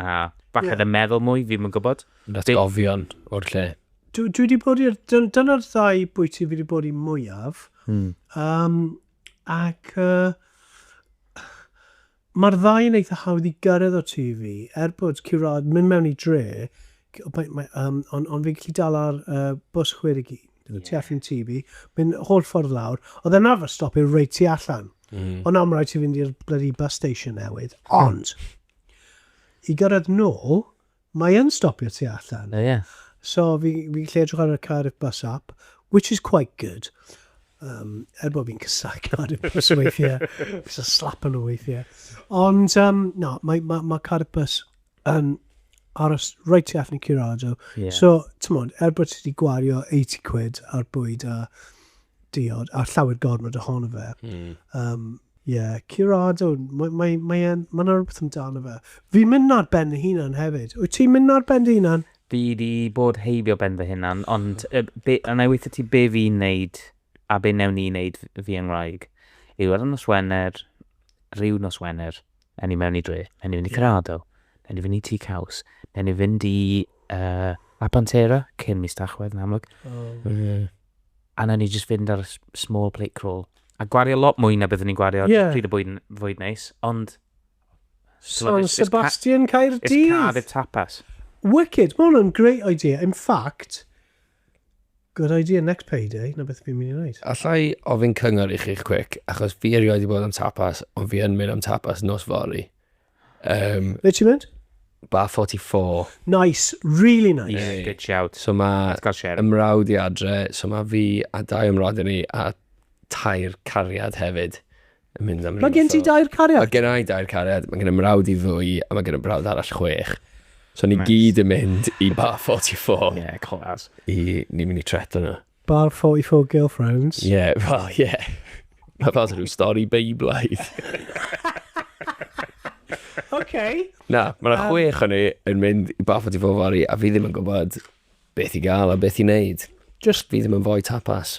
a falle yeah. yn meddwl mwy, fi'n mynd gwybod. That's Be... gofion o'r lle. Dwi, dwi wedi bod i'r... Dyna'r ddau bwyty fi wedi bod i mwyaf. Hmm. Um, Ac yy mae'r ddau yn eitha hawdd i gyrraedd o tŷ fi, er bod Curadd mynd mewn i dre, ond on fi'n gallu dal ar uh, bws 61, yeah. tu allan tŷ fi, mynd holl ffordd lawr, oedd e'n arfer stopio reit tu allan. Mm. Ond am rhaid ti fynd i'r bloody bus station newydd. Ond, i gyrraedd nôl, Mae yn stopio tu allan. O ie. So fi fi'n gallu edrych ar y Cardiff Bus app, which is quite good. Um, er bod fi'n casau Cardiff Bus weithiau. Fi'n so slap nhw weithiau. Ond, um, no, mae, ma, ma Cardiff Bus yn aros right tu allan i Curado. Yeah. So, ti'n modd, er bod ti wedi gwario 80 quid ar bwyd a diod, a llawer gormod ohono fe. Mm. Um, yeah, curado, mae yna mae, mae, mae rhywbeth amdano fe. Fi'n mynd ar ben y hunan hefyd. Wyt ti'n mynd ar ben dy hunan? Fi di bod heibio ben fy hunan, ond uh, be, a na i weithio ti be fi'n neud a be newn ni wneud fi yng Ngwraeg yw ar y nos Wener, rhyw nos Wener, Newn ni mewn i dre. Newn ni fynd i Cerrado. Newn ni fynd i Tŷ Caws. Newn ni fynd i uh, Apantera, cyn mis Tachwedd yn amlwg. Oh. Mm. A newn ni just fynd ar small plate crawl. A gwario lot mwy na byddwn ni'n gwario yeah. pryd y bwyd, fwyd neis, ond... San Sebastian Caerdydd. It's Cardiff Tapas. Wicked, mae hwnna'n great idea. In fact, Good idea, next payday, 'na beth fi'n mynd i wneud. Allai ofyn cyngor i chi'ch quick, achos fi erioed i bod am tapas, ond fi yn mynd am tapas nos fory. Um, Ble ti'n mynd? Bar 44. Nice, really nice. Yeah, good shout. So mae ymrawd i adre, so mae fi a dau ymrawd i ni a tair cariad hefyd. yn mynd am rhywbeth. Mae gen ti dair cariad? Mae gen i dair cariad, mae gen i mrawd i ddwy, a mae gen i mrawd arall chwech. So ni nice. gyd yn mynd i Bar 44. Ie, yeah, clas. I, ni'n mynd i tret yna. Bar 44 Girlfriends. Ie, yeah, well, ie. Yeah. Mae fel rhyw stori beiblaidd. okay. Na, mae yna um, chwech o'n ni yn mynd i Bar 44 fori, a fi ddim yn gwybod beth i gael a beth i wneud. Just fi ddim yn fwy tapas.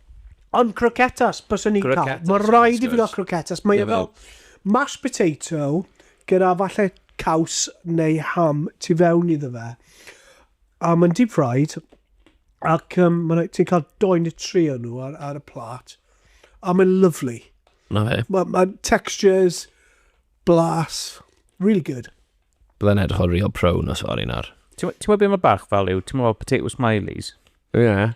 Ond croquetas, byswn i'n cael. Mae rhaid i fi gael croquetas. Mae fel mashed potato gyda falle caws neu ham tu fewn iddo fe. A mae'n deep fried. Ac um, ti'n cael doi neu tri o nhw ar, ar y plat. A mae'n lovely. Na fe. Mae ma textures, blas, really good. Byddai'n edrych o real pro nos fory nawr. Ti'n gwybod beth mae bach fel yw? Ti'n gwybod potato smileys? Ie. Yeah.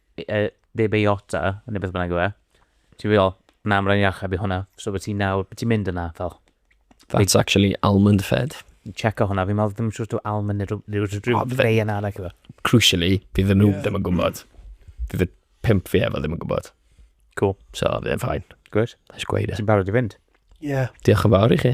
yy, neu beiota, neu beth bynnag yw e. Ti'n meddwl, na, mae'n rhaid i achub i hwnna. So, beth ti'n nawr, beth ti'n mynd yna, fel? That's actually almond fed. Checo hwnna, fi'n meddwl ddim siwr dwi almond neu rhyw- rhyw rhyw O, fe- greu yn arall efo. Crucially, fi ddim nhw ddim yn gwybod. Fi fy pimp fi efo ddim yn gwybod. Cool. So, fi'n ffain. Gwyd. Nes gweud e. Ti'n barod i fynd? Ie. Diolch yn fawr i chi.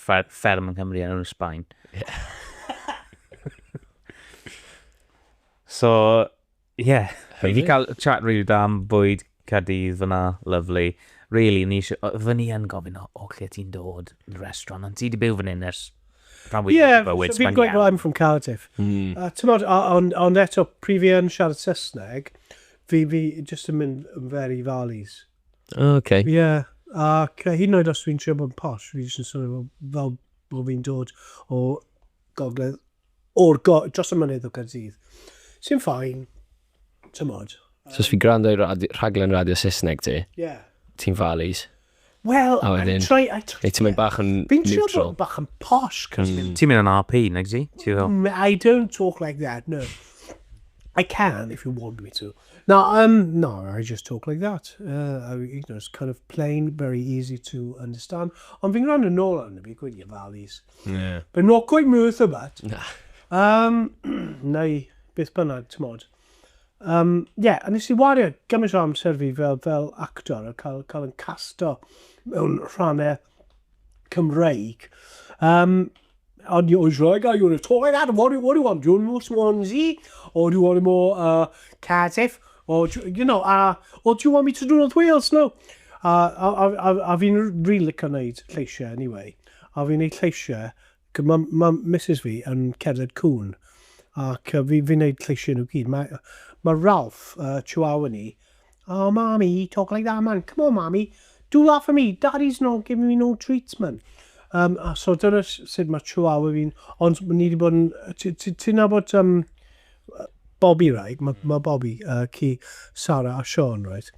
fferm yng Nghymru yn enw Sbaen. so, ie. Yeah. Fi wedi cael chat rili da am bwyd Cadydd fyna, lovely. Really, ni eisiau... Fy ni yn gofyn o, o lle ti'n dod, restaurant, ond ti wedi byw fan hyn ers rhan fwy yeah, o bywyd. Ie, fi'n gweud, well, I'm from Cardiff. Mm. A ti'n modd, ond on eto, prif i yn siarad Saesneg, fi, fi just yn mynd yn fer i Farley's. O, oh, okay. Ie, yeah. ac uh, hyd yn oed os dwi'n trio bod yn posh, fi jyst yn swnio fel, fel bod fi'n dod o gogledd, o'r go, dros y mynydd o Gaerdydd. Sy'n ffain, tymod. Um, so os fi gwrando i radi, rhaglen radio Saesneg ti, yeah. ti'n falis. Wel, oh, I try... I try Neu ti'n mynd bach yn neutral. Fi'n trio bod bach yn posh. Mm. Ti'n mynd yn RP, nag ti? Mm, I don't talk like that, no. I can if you want me to. Na, um, no, I just talk like that. Uh, I, you know, it's kind of plain, very easy to understand. Ond fi'n rhan yn ôl arno fi, gwydi ofalus. Yeah. But not quite worth a bat. Na. Um, neu, beth bynnag, ti'n modd. Um, yeah, a nes i wario gymaint o amser fi fel, fel actor, a cael, cael yn casto mewn rhannau Cymreig. Um, and you was like, oh, you want to talk like that? What do, what do you want? Do you want more Swansea? Or do you want more uh, Cardiff? Or, you know, uh, or do you want me to do North Wales? No. Uh, a, a, a, a fi'n rili really licio wneud lleisiau, anyway. A fi'n gwneud lleisiau, mae ma Mrs fi yn cerdded cwn, ac fi'n fi wneud lleisiau nhw gyd. Mae ma Ralph, uh, Chihuahua ni, Oh mommy, talk like that man, come on mommy, do that for me, daddy's not giving me no treats man. Um, a so dyna sut mae chihuahua fi'n, ond ni wedi bod yn, ti'n nabod um, Bobby, right? Mae ma Bobby, uh, ci Sarah a Sean, right?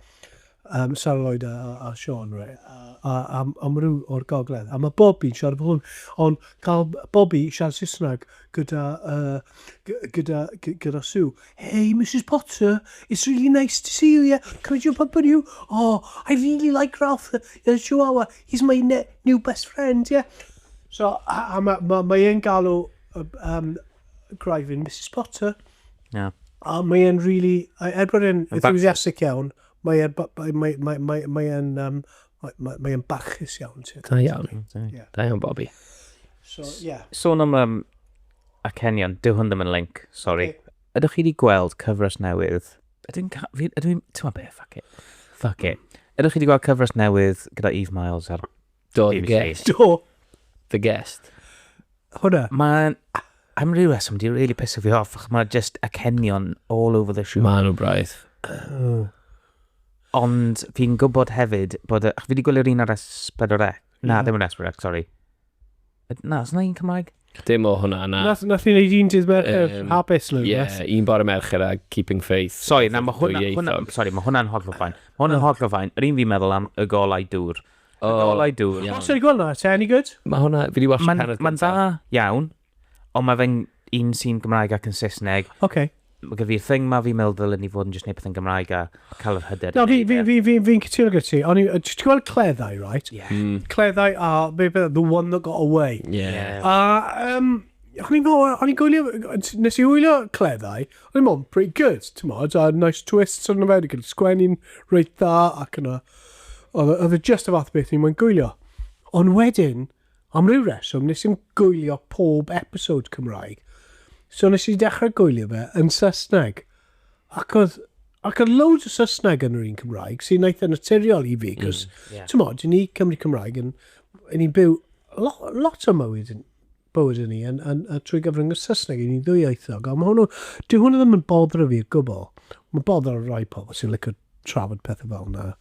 Um, Sarah Lloyd a, a Sean, right? A, a, a, a o'r gogledd. A mae Bobby'n siarad bod hwn, ond cael Bobby siarad Saesneg, gyda yy gyda gyda Sue. Hey Mrs Potter, it's really nice to see you, yeah. Can I jump up on you? Oh, I really like Ralph, the Chihuahua. He's my ne new best friend, yeah. So, a, a mae ma, ma e'n galw um, Gryfyn Mrs Potter. Yeah. A mae e'n really, er bod e'n enthusiastic iawn, mae e'n mae, mae, mae, mae, mae um, Mae'n mae, barchus iawn, ti. Da iawn. Yeah. Da iawn, Bobby. So, yeah. Sôn am um, acenion, dyw hwn ddim yn link, sorry. Okay. Ydych chi wedi gweld cyfres newydd? Ydw i'n... Ydw i'n... Ti'n ma beth, fuck it. Fuck it. Ydych chi wedi gweld cyfres newydd gyda Eve Miles ar Do, the guest. Do. The guest. Hwna. Mae'n... I'm rhyw reswm, di'n really piss fi off, achos mae just acenion all over the show. Mae nhw braidd. Ond fi'n gwybod hefyd bod y... Ach, fi wedi gwylio'r un ar S4C. Na, ddim yn S4C, sori. Na, os yna un Cymraeg? Dim o hwnna, na. Nath, nath i wneud un dydd Mercher, um, Habits neu Ie, yeah, un bore Mercher a Keeping Faith. Sori, na, mae hwnna, hwnna, sorry, mae hwnna'n hollol ffain. Mae hwnna'n hollol ffain. Yr un fi'n meddwl am y golau dŵr. Y golau dŵr. Os ydych chi'n gweld hwnna, te, any good? Mae hwnna, fi wedi watch Mae'n ma dda iawn. Ond mae fe'n un sy'n Gymraeg ac yn Saesneg. OK. Mae gen fi'r thing ma, fi'n meddwl ddylen ni fod yn just neud pethau'n Gymraeg a cael yr hyder i No, fi, neud fi, e. fi, fi, fi'n cytuno gyda ti. O'n i, yy, ti'n gweld cleddau, right? Ie. Mm. Cleddau a be beth, the one that got away. Ie. Ie. A, um, o'n i'n meddwl, o'n i'n gwylio, nes i wylio cleddau, o'n i'n meddwl, pretty good, ti'n modd, a nice twists arno fe, gyda sgwenni'n reit dda, ac yna, oedd oedd e just y fath o beth o'n i'n moyn gwylio. Ond wedyn, Am ryw reswm nes i'm gwylio pob episode Cymraeg, so nes i dechrau gwylio fe yn Saesneg. Ac oedd, ac oedd loads o Saesneg yn yr un Cymraeg, sy'n eitha naturiol i fi, cos, mm, yeah. ti'n modd, ni Cymru Cymraeg, yn, ni'n byw lo, lot o mywyd yn, bywyd yn ni yn, yn, yn, trwy gyfrwng y Saesneg i ni'n ddwyieithog. Ond mae hwnnw, dwi hwnnw ddim yn boddro fi o gwbl. Mae'n boddro rai pobl sy'n licio trafod pethau fel yna.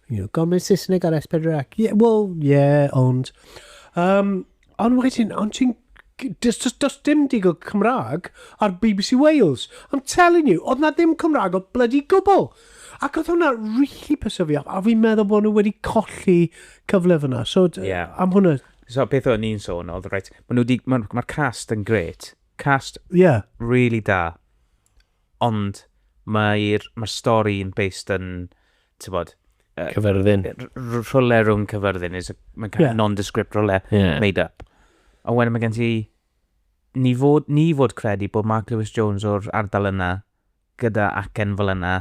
You know, gormod Saesneg ar S4C. Ac, yeah, well, yeah, ond... Um, ond wedyn, ond ti'n... Does, does, does dim digon Cymraeg ar BBC Wales. I'm telling you, oedd na ddim Cymraeg o bloody gwbl. Ac oedd hwnna really pysio fi off, a fi'n meddwl bod nhw wedi colli cyfle fyna. So, yeah. am hwnna... So, beth o'n i'n sôn, oedd, right, mae nhw di... Mae'r ma cast yn gret. Cast yeah. really da. Ond mae'r mae'r stori yn based yn, tibod... Cyfyrddin. Rhywle rhwng cyfyrddin, is a kind of nondescript rhywle yeah. made up. A wedyn mae gen ti, ni fod, ni fod credu bod Mark Lewis Jones o'r ardal yna, gyda acen fel yna,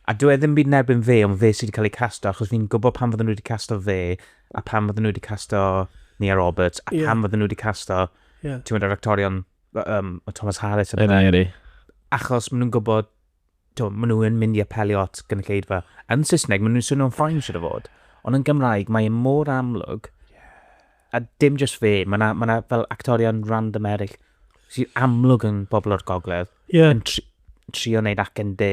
a dwi e ddim byd nerbyn fe, ond fe sydd wedi cael ei casto, achos fi'n gwybod pan fydden nhw wedi casto fe, a pan fydden nhw wedi casto Nia Roberts, a yeah. pan fydden nhw wedi casto, yeah. ti'n mynd ar actorion um, o Thomas Harris yn yna. Yna, Achos maen nhw'n gwybod, to, maen nhw'n mynd i apelio at gynulleidfa. Yn Saesneg, maen nhw'n swnio'n ffain sydd o fod. Ond yn Gymraeg, mae e mor amlwg. A dim jyst fe, mae yna ma fel actorion random eraill sy'n amlwg yn bobl o'r gogledd. Yeah. Yn tri, trio wneud ac yn de.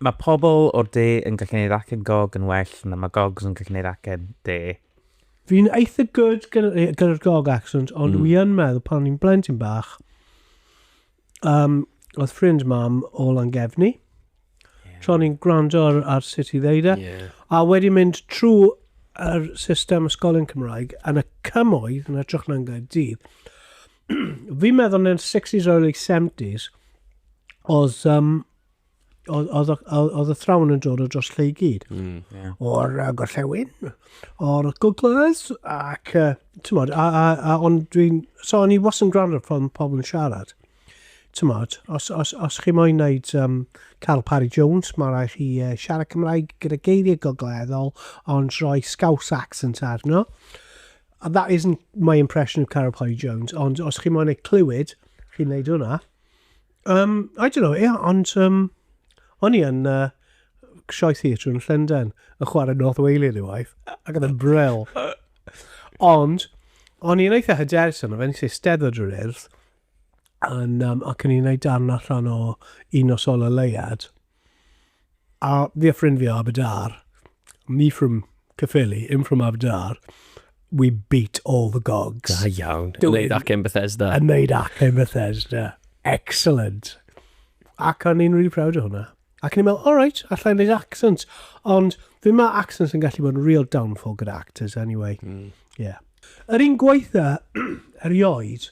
Mae pobl o'r de yn gallu neud acen gog yn well na mae gogs yn gallu neud acen de. Fi'n eitha good gyda'r gog accent, ond wi yn meddwl pan o'n i'n blentyn bach, um, oedd ffrind mam o Langefni, yeah. tra ni'n gwrando ar, ar sut i ddeud e, yeah. a wedi mynd trwy yr system ysgolion Cymraeg yn y cymoedd yn y trwch na'n gael dydd, fi'n meddwl yn 60s, early 70s, oedd, um, oedd, oedd, y thrawn yn dod o dros lle i gyd. Mm, yeah. O'r uh, gorllewin, o'r googlers, ac, uh, ti'n modd, a, a, a, ond dwi'n, so o'n i was yn gwrando pan pobl yn siarad. Ti'n modd, os, os, os chi moyn wneud um, Carl Parry Jones, mae rhaid chi uh, siarad Cymraeg gyda geiriau gogleddol, ond rhoi scouse accent arno. And that isn't my impression of Carol Pye Jones, ond os chi moyn ei clywed, chi'n neud hwnna. Um, I don't know, yeah, ond um, o'n i yn uh, Sioe Theatre yn Llundain yn chwarae North Whaley yn ei waith, ac oedd yn bril. Ond, o'n i'n eitha hyderus yno, fe'n eisiau steddod yr urdd, yn, um, ac o'n i'n ei darn allan o un o sol y leiad. A fi a ffrind fi o Aberdâr, me from Cyffili, him from Aberdâr, we beat all the gogs. Da iawn. Yn neud acen Bethesda. Yn neud acen Bethesda. Excellent. Ac o'n i'n really proud o hwnna. Ac o'n i'n meddwl, all right, allai yn neud accent. Ond fi mae accents yn gallu bod yn real downfall gyda actors anyway. Mm. Yeah. Yr un gwaitha, erioed,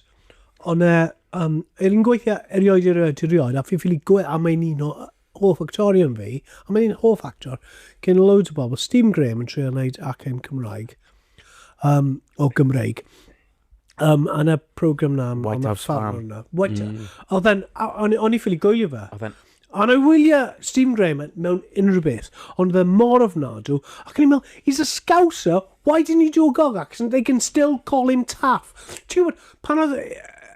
Ond e, um, er yn gweithio erioed i'r aduriod, a fi'n ffili gwe, a mae'n un o hoff actorion fi, a mae'n un hoff actor, gen loads o bobl, Steve Graham yn trio wneud acen Cymraeg, um, o Gymreig. Um, a na program na... White House Farm. White, mm. Oedd e'n... O'n i ffili gwylio fe. Oedd e'n Ond I wylio Stephen Graham mewn unrhyw beth, ond oedd e mor ofnadw, ac o'n i'n meddwl, he's a scouser, why didn't he do a gog accent, they can still call him Taff. Ti'n gwybod, pan oedd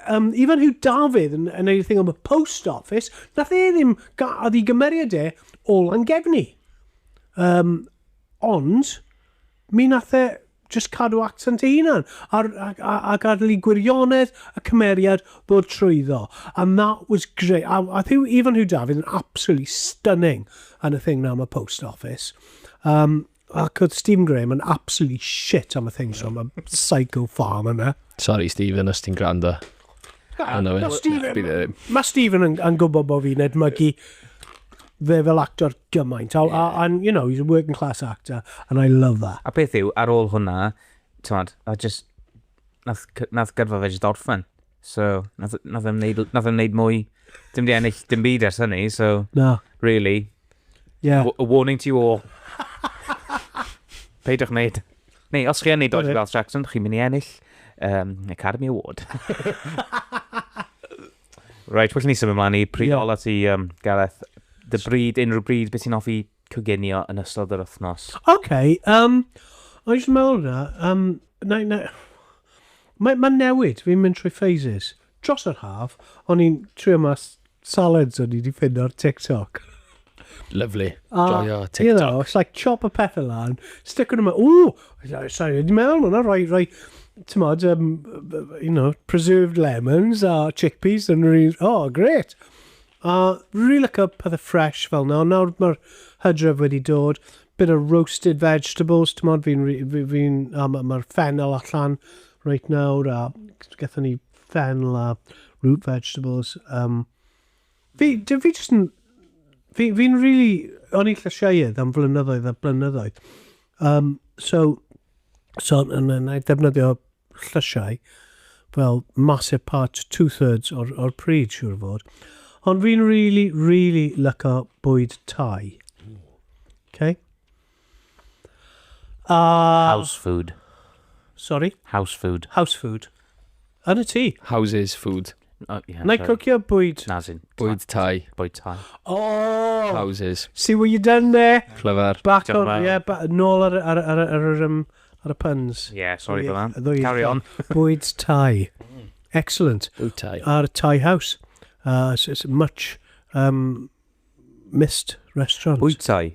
um, Ifan Hugh Dafydd yn, yn ei thing am y post office, nath e ddim, oedd i gymeriad e o Langefni. Um, ond, mi nath e, Jyst cadw accent dy hunan, ar, ac, a, a gadel i gwirionedd y cymeriad ddod trwyddo. And that was great. A, a Huw, Ifan Huw Dafydd yn absolutely stunning yn y thing na am y post office. Um, ac oedd Stephen Graham yn absolutely shit am y thing, so am y psycho farm yna. Sorry Stephen, os ti'n gwrando. Mae Stephen, ma Stephen yn, yn gwybod bod fi'n edmygu fe fel actor gymaint. A, yeah. a, and, you know, he's a working class actor, and I love that. A peth yw, ar ôl hwnna, tywed, a just, nath, nath gyrfa fe just orffen. So, nath, nath, em neud, nath em neud mwy, dim di ennill dim byd ers hynny, so, no. really, Yeah. A warning to you all. Peidiwch wneud. Neu, os chi yn neud dodgy Welsh accent, chi'n mynd i ennill um, Academy Award. right, well, ni symud ymlaen i pryd yeah. ola ti, um, Gareth. Dy bryd, unrhyw bryd, beth sy'n offi coginio yn ystod yr wythnos? OK, um, o'n i'n meddwl na, um, na, na, mae'n ma newid, fi'n mynd trwy phases. Dros yr haf, o'n i'n trio mas salads o'n i 'di ffindo ar TikTok. Lovely. A, Joio TikTok. You know, it's like chop y pethau lan, stick nhw mewn, ooh, sorry, wedi meddwl hwnna, rhoi, rhoi, ti'n modd, um, you know, preserved lemons a chickpeas, and really, oh, great. A really look up pethau fresh fel na, nawr mae'r hydref wedi dod, bit of roasted vegetables, ti'n modd, fi'n, fi'n, fi, fi, a mae'r ma ffenol allan, Reit nawr, a gethon ni fennel a root vegetables. Um, fi, dwi fi jyst yn... Fi, fi'n really... O'n i'n llysieuedd am flynyddoedd a blynyddoedd. Um, so, so yn yn ei defnyddio llysiau fel massive part, two-thirds o'r, or pryd, siwr fod. Ond fi'n really, really lyco bwyd tai. Okay? A... House food. Sorry? House food. House food. Yn y tŷ. Houses food. Oh, yeah, Na i cocio bwyd... Na, sy'n... Bwyd tai. Bwyd tai. O! Houses. See what you done there? Clever. Back on, yeah, ba nôl ar, ar, ar, ar, ar, um, ar y puns. Yeah, sorry for that. Carry on. Bwyd tai. Mm. Excellent. Bwyd tai. Ar tai house. Uh, it's, it's much um, missed restaurant. Bwyd tai.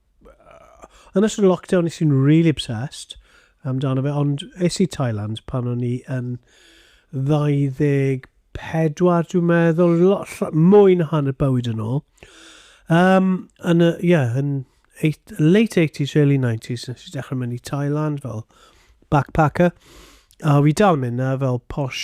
yn ystod y lockdown nes i'n really obsessed amdano fe, ond es i Thailand pan o'n i yn 24, dwi'n meddwl, lot, mwy na hanner bywyd yn ôl. Um, yn y, yeah, yn eight, late 80s, early 90s, nes i dechrau mynd i Thailand fel backpacker. A fi dal mynd na fel posh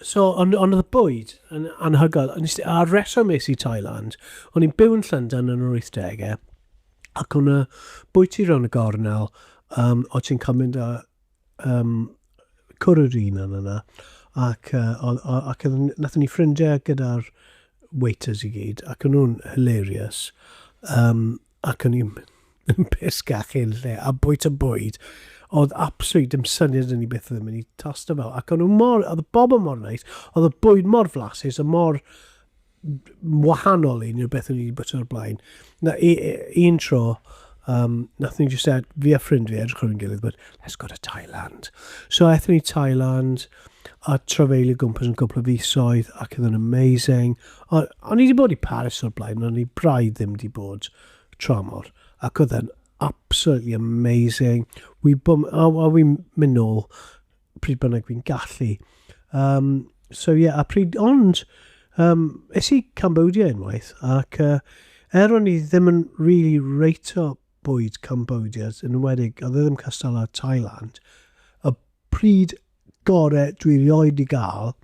So, ond on oedd y bwyd yn anhygoel. A'r reswm es i Thailand, o'n i'n byw yn Llundain yn yr 80au, ac o'n y bwyty rhan y gornel, um, o ti'n cael mynd â um, cwrw yr un yn yna, ac, uh, ac nath ni ffrindiau gyda'r waiters i gyd, ac o'n nhw'n hilarious. Um, ac o'n i'n yn pesga chi yn lle, a bwyd y bwyd, oedd absolut dim syniad yn ni beth oedd yn mynd i tosto fel. Ac o'n nhw mor, oedd y bobl mor neis, oedd y bwyd mor flasus, a mor wahanol i ni o beth o'n ni wedi bod o'r blaen. Na, i, i, un tro, um, nath ni jyst, fi a ffrind fi edrych ar ein gilydd, but let's go to Thailand. So, ethon ni Thailand, a trafeilio gwmpas yn cwpl o fisoedd ac oedd yn amazing. O, o'n i wedi bod i Paris o'r blaen, ond o'n i braidd ddim wedi bod tramor. Ac oedd yn absolutely amazing. Wi bwm, a, a wi'n mynd nôl pryd bynnag fi'n gallu. Um, so ie, yeah, a pryd, ond, um, es i Cambodia unwaith, ac uh, er o'n i ddim yn really reito bwyd Cambodia, yn enwedig, oedd e ddim cystal â Thailand, y pryd gore dwi rioed di gael,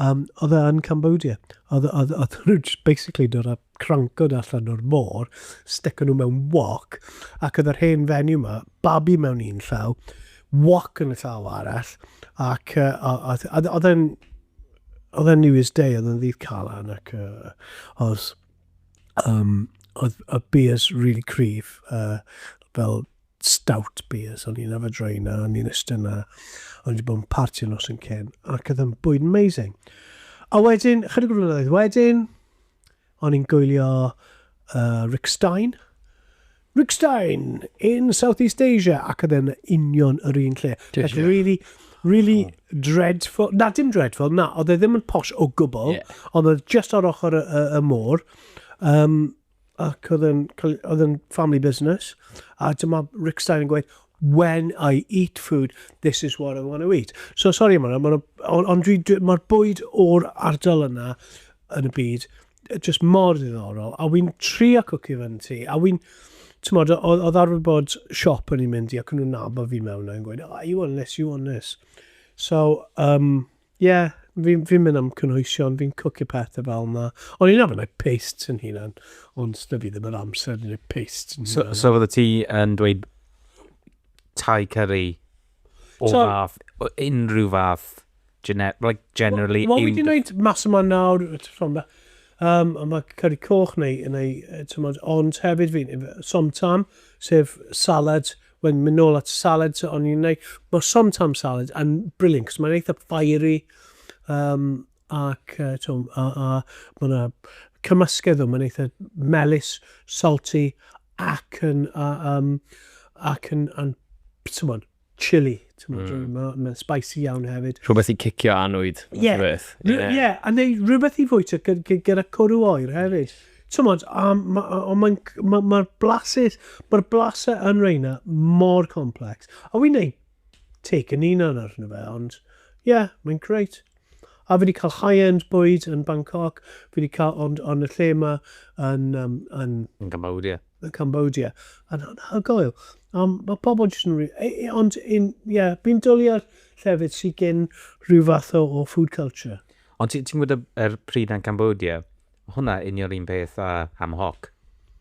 um, oedd e yn Cambodia. Oedd, oedd, oedd nhw just basically dod a crancod allan o'r môr, stick nhw mewn wok, ac oedd yr hen fenyw yma, babi mewn un llaw, wok yn y llaw arall, ac oedd e'n oedd e'n New Year's Day, oedd e'n ddydd calan, ac uh, oedd Um, oedd y beers really cryf, uh, fel stout beers, o'n i'n yfed roi na, o'n i'n ystod na, o'n i'n bod yn party yn os yn cyn, ac oedd yn bwyd amazing. A wedyn, chydig o flynyddoedd wedyn, o'n i'n gwylio uh, Rick Stein, Rick Stein in Southeast Asia ac oedd e'n union yr un lle. Like really, really oh. dreadful. Na, dim dreadful, na, oedd e ddim yn posh o gwbl, yeah. ond oedd just ar ochr y, y, y môr. Um, ac oedd yn, oedd yn family business. A dyma Rick Stein yn gweud, when I eat food, this is what I want to eat. So, sorry, yma, ond dwi, dwi, mae'r bwyd o'r ardal yna yn y byd, Just mor ddiddorol. A wy'n tri a cwci fan ti. A wy'n, ti'n modd, oedd arfer bod siop o'n i'n mynd i ac o'n nhw'n nabod fi mewn a'n gweud, oh, you want this, you want this. So, um, yeah, fi'n fi mynd am cynhwysion, fi'n cwcio pethau fel yna. O'n i'n arfer gwneud paste yn hunan, ond dy fi ddim yr amser yn gwneud paste yn hunan. So, so fydde ti yn dweud tai curry O so, fath, o unrhyw fath, gener like, generally... Wel, wedi gwneud mas yma nawr, um, a mae curry coch neu, neu tymod, ond hefyd fi, somtam, sef salad, wedyn mynd nôl at salad, so o'n i'n gwneud, mae somtam salad yn brilliant, cos mae'n eitha fiery, um, ac mae yna cymysgedd o, mae'n eitha melus, salty, ac yn, ac yn, yn, ti'n chili, ti'n mm. mae'n ma spicy iawn hefyd. Rhywbeth i cicio anwyd, yeah. rhywbeth. Yeah. yeah, a neu rhywbeth i fwyta gyda cwrw oer hefyd. Ti'n modd, ond mae'r ma, ma, ma blasus, mae'r blasau yn reina mor complex. A wy'n neud teg yn unan arno fe, ond ie, yeah, mae'n greit. A fi wedi cael high-end bwyd yn Bangkok, fi wedi cael, ond yn y lle yma yn... Um, yn, yn Cambodia. Yn Cambodia. Yn anhygoel. Um, mae pobl jyst yn... E, e, ond, ie, yeah, fi'n dwlu ar llefydd sy'n gen rhyw fath o, o food culture. Ond ti'n ti gwybod y, er pryd yn Cambodia, Hwnna union un peth a Pam Hawk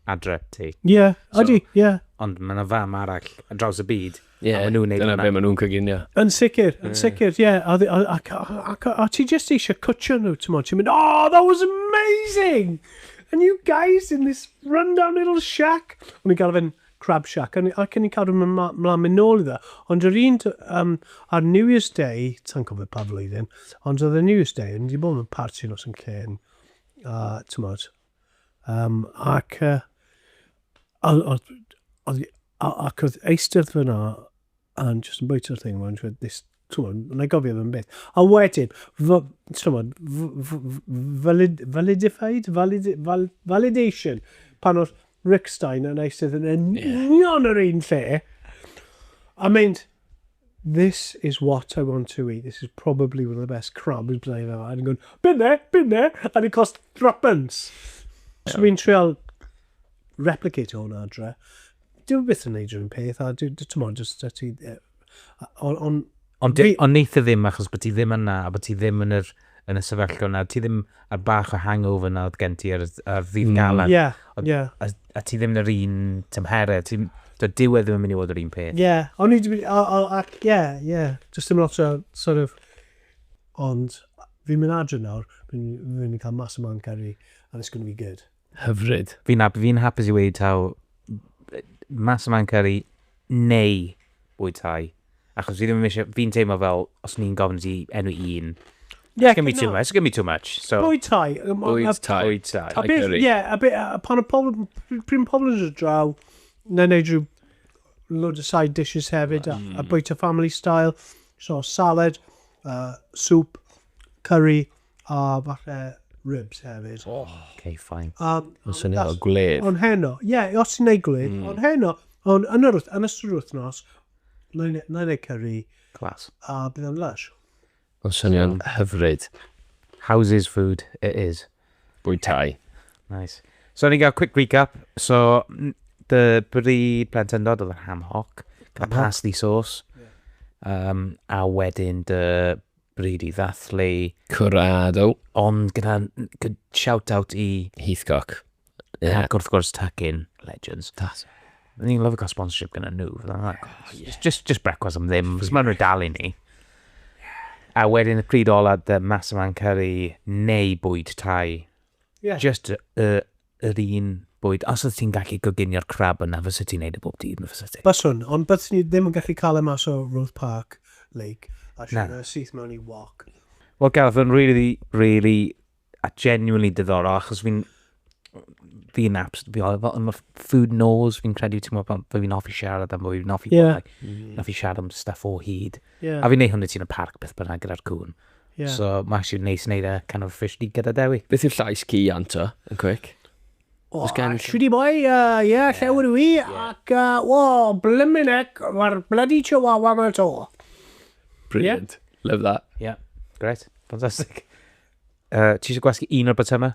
adre ti. Ie, ydy, ie. Ond mae yna fam arall ar draws y byd a maen nhw'n neud hwnna. Ie, dyna be maen nhw'n coginio. Yn sicr, yn sicr, ie. A ti jyst eisiau cwtshio nhw, ti'n mynd, oh, that was amazing! And you guys in this run-down little shack! O'n i'n gael fe'n Crab Shack, ac o'n i'n cadw mynd mlaen mynd nôl iddo. Ond yr un ar New Year's Day, sa'n cofio pa flwyddyn, ond oedd y New Year's Day, o'n i wedi bod mewn parti nos yn llên, a ti'n modd, um, ac, uh, ac oedd eisteddfod yna, and just yn bwyta'r thing, and this, Twmod, na i gofio fe'n beth. A wedyn, twmod, valid, validified, valid, val, validation, pan oedd Rick Stein yn eisydd yn union yr un lle, a mynd, this is what I want to eat, this is probably one of the best crabs byddai fe yma. And going, been there, been there, and it cost threepence. Yeah. So fi'n trial replicate hwnna adre. Dwi'n byth yn neud rhywun peth, a dwi'n, ti'n modd, jyst ti Ond... Ond fi... Ond neith e ddim achos bod ti ddim yna a bod ti ddim yn yr, yn y sefyllfa yna. Ti ddim ar bach o hangover yna oedd gen ti ar, ar ddydd galan. Mm. Yeah, Ond- yeah. A, a ti ddim yn yr un tymheredd. Ti, do, dyw e ddim yn mynd i fod yr un peth. Yeah, o'n i wedi mynd, o- o- ac, yeah, yeah. Just dim lot o, sort of, ond fi'n mynd adre nawr, fi'n fi'n mynd i cael mas y man caru, and it's going to be good. Hyfryd. Fi'n hap- fi'n hapus i weud taw Mas Ymlaen Cyrru neu Bwyd Tai. Achos fi ddim yn eisiau... Fi'n teimlo fel, os ni'n gofyn i ti enwi un, Ie, it's going to be too no. much, it's going to be too much. So, Bwyd tai. Yym, a- Bwyd a- tai. Bwyd Tai. A Like beth, curry. ie, a be, a a pan y pobl, pr- pryd mae pobl yn dod draw, na wneud rhyw load of side dishes hefyd, a, a bwyta family style, so salad, uh, soup, curry, A falle ribs hefyd. Oh. Okay, fine. Um, Mae'n swnio fel gwledd. Ond heno, ie, yeah, os ti'n neud gwledd, mm. ond heno, ond yn, yr, yn ystod yr wythnos, na i neud curry. Clas. A bydd o'n lush. Mae'n swnio'n hyfryd. Houses food it is. Bwyd tai. Nice. So, ni'n gael quick recap. So, dy bri plentyndod oedd yr ham hoc, cael pasty sauce, yeah. um, a wedyn dy bryd i ddathlu. Curado. Ond gyda shout-out i... Heathcock. Yeah. Ac wrth gwrs Tuckin, Legends. That's... Ni'n lyfio cael sponsorship gyda nhw. Just, just, just brecwast am ddim, cos maen nhw'n dalu ni. A wedyn y pryd ola, dy mas yma'n cyrru neu bwyd tai. Yeah. Just y, y, yr un bwyd. Os oeddet ti'n gallu coginio'r crab yna, fyset ti'n neud e bob dydd, fyset ti? Byswn, ond byddwn i ddim yn gallu cael e mas o Roath Park Lake a rhoi fe syth mewn i wok. Wel Gareth, oedd yn really, really a genuinely diddorol, achos fi'n fi'n apps, fi oedd fel, mae food knows, fi'n credu, ti'n meddwl, fe fi'n hoffi siarad am fwy, fi'n hoffi yeah. bod, like, mm. hoffi siarad am stuff o hyd. Yeah. A fi'n neud hwnna ti'n y parc beth bynnag gyda'r cwn. Yeah. So mae actually neis wneud e kind of officially gyda Dewi. Beth yw'r llais ci anto, yn cwic? O, oh, gen... Shwdi boi, ie, uh, yeah, lle yw'r wi, ac, uh, o, oh, blymin ec, mae'r bloody chihuahua yma to. Brilliant. Yeah. Love that. Yeah, great. Fantastic. Uh, ti eisiau gwasgu un o'r botymau?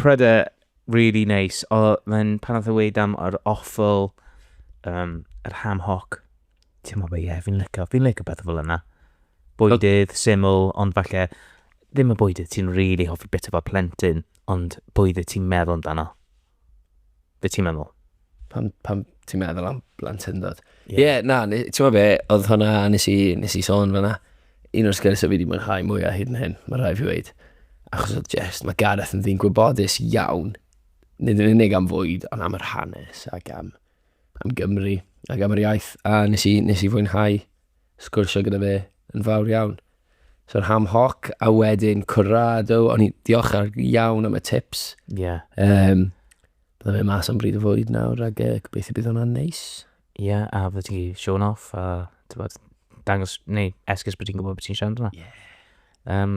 Pryder really neis. O, mae'n pan oedd y weid am yr offal, um, yr ham hoc. Ti'n meddwl, ie, fi'n licio, fi'n licio beth fel yna. Bwydydd, syml, ond falle ddim y bwydydd ti'n really hoffi bit fel plentyn, ond bwydydd ti'n meddwl amdano. Be ti'n meddwl? Pam, pam ti'n meddwl am blantyndod? Ie, yeah. yeah, na, ti'n meddwl be, oedd hwnna, nes i, nes i sôn fanna, un o'r sgyrsiau fi wedi mwynhau mwyaf hyd yn hyn, mae rhaid fi wedi. Achos oedd just, mae Gareth yn ddyn gwybodus iawn, nid yn unig am fwyd, ond am yr hanes ac am, am Gymru ac am yr iaith. A nes i, nes i fwynhau sgwrsio gyda fe yn fawr iawn. So ham hoc a wedyn cwrado, o'n i diolch ar iawn am y tips. Ie. Yeah. Um, Byddai fe mas am bryd o fwyd nawr ac uh, gobeithio bydd hwnna'n neis. Ie, yeah, a fydde ti shown off a tywed, dangos, neu esgus bod ti'n gwybod beth ti'n siarad yna. Ie. Yeah. Um,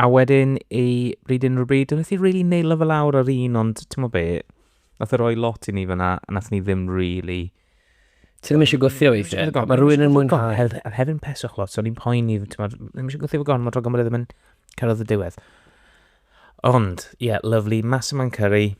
a wedyn i bryd unrhyw bryd, dwi'n eithaf really neilo fel awr ar un, ond ti'n mo be, nath e roi lot i ni fyna, a nath ni ddim really Ti ddim eisiau gwthio weithiau. Mae rhywun yn mwynhau. Hef, hef yn peswch lot, so ni'n poeni, ddim eisiau gwthio fo gormod, rhaid gormod ddim yn cyrraedd y diwedd. Ond, ie, yeah, lovely, massive man curry.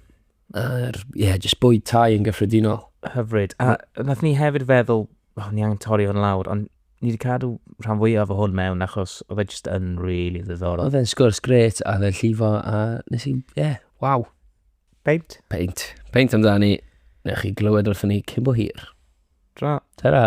Yr, ie, yeah, just bwyd tai yn gyffredinol. Hyfryd. A nath ni hefyd feddwl, oh, ni angen torri o'n lawr, ond ni wedi cadw rhan fwyaf o hwn mewn achos oedd e just yn really ddiddorol. Oedd e'n sgwrs gret a oedd e'n llifo a nes i, ie, yeah, waw. Peint. Peint. Peint amdani. Neu chi glywed wrthyn ni cyn bo hir. Tra. Ta-ra.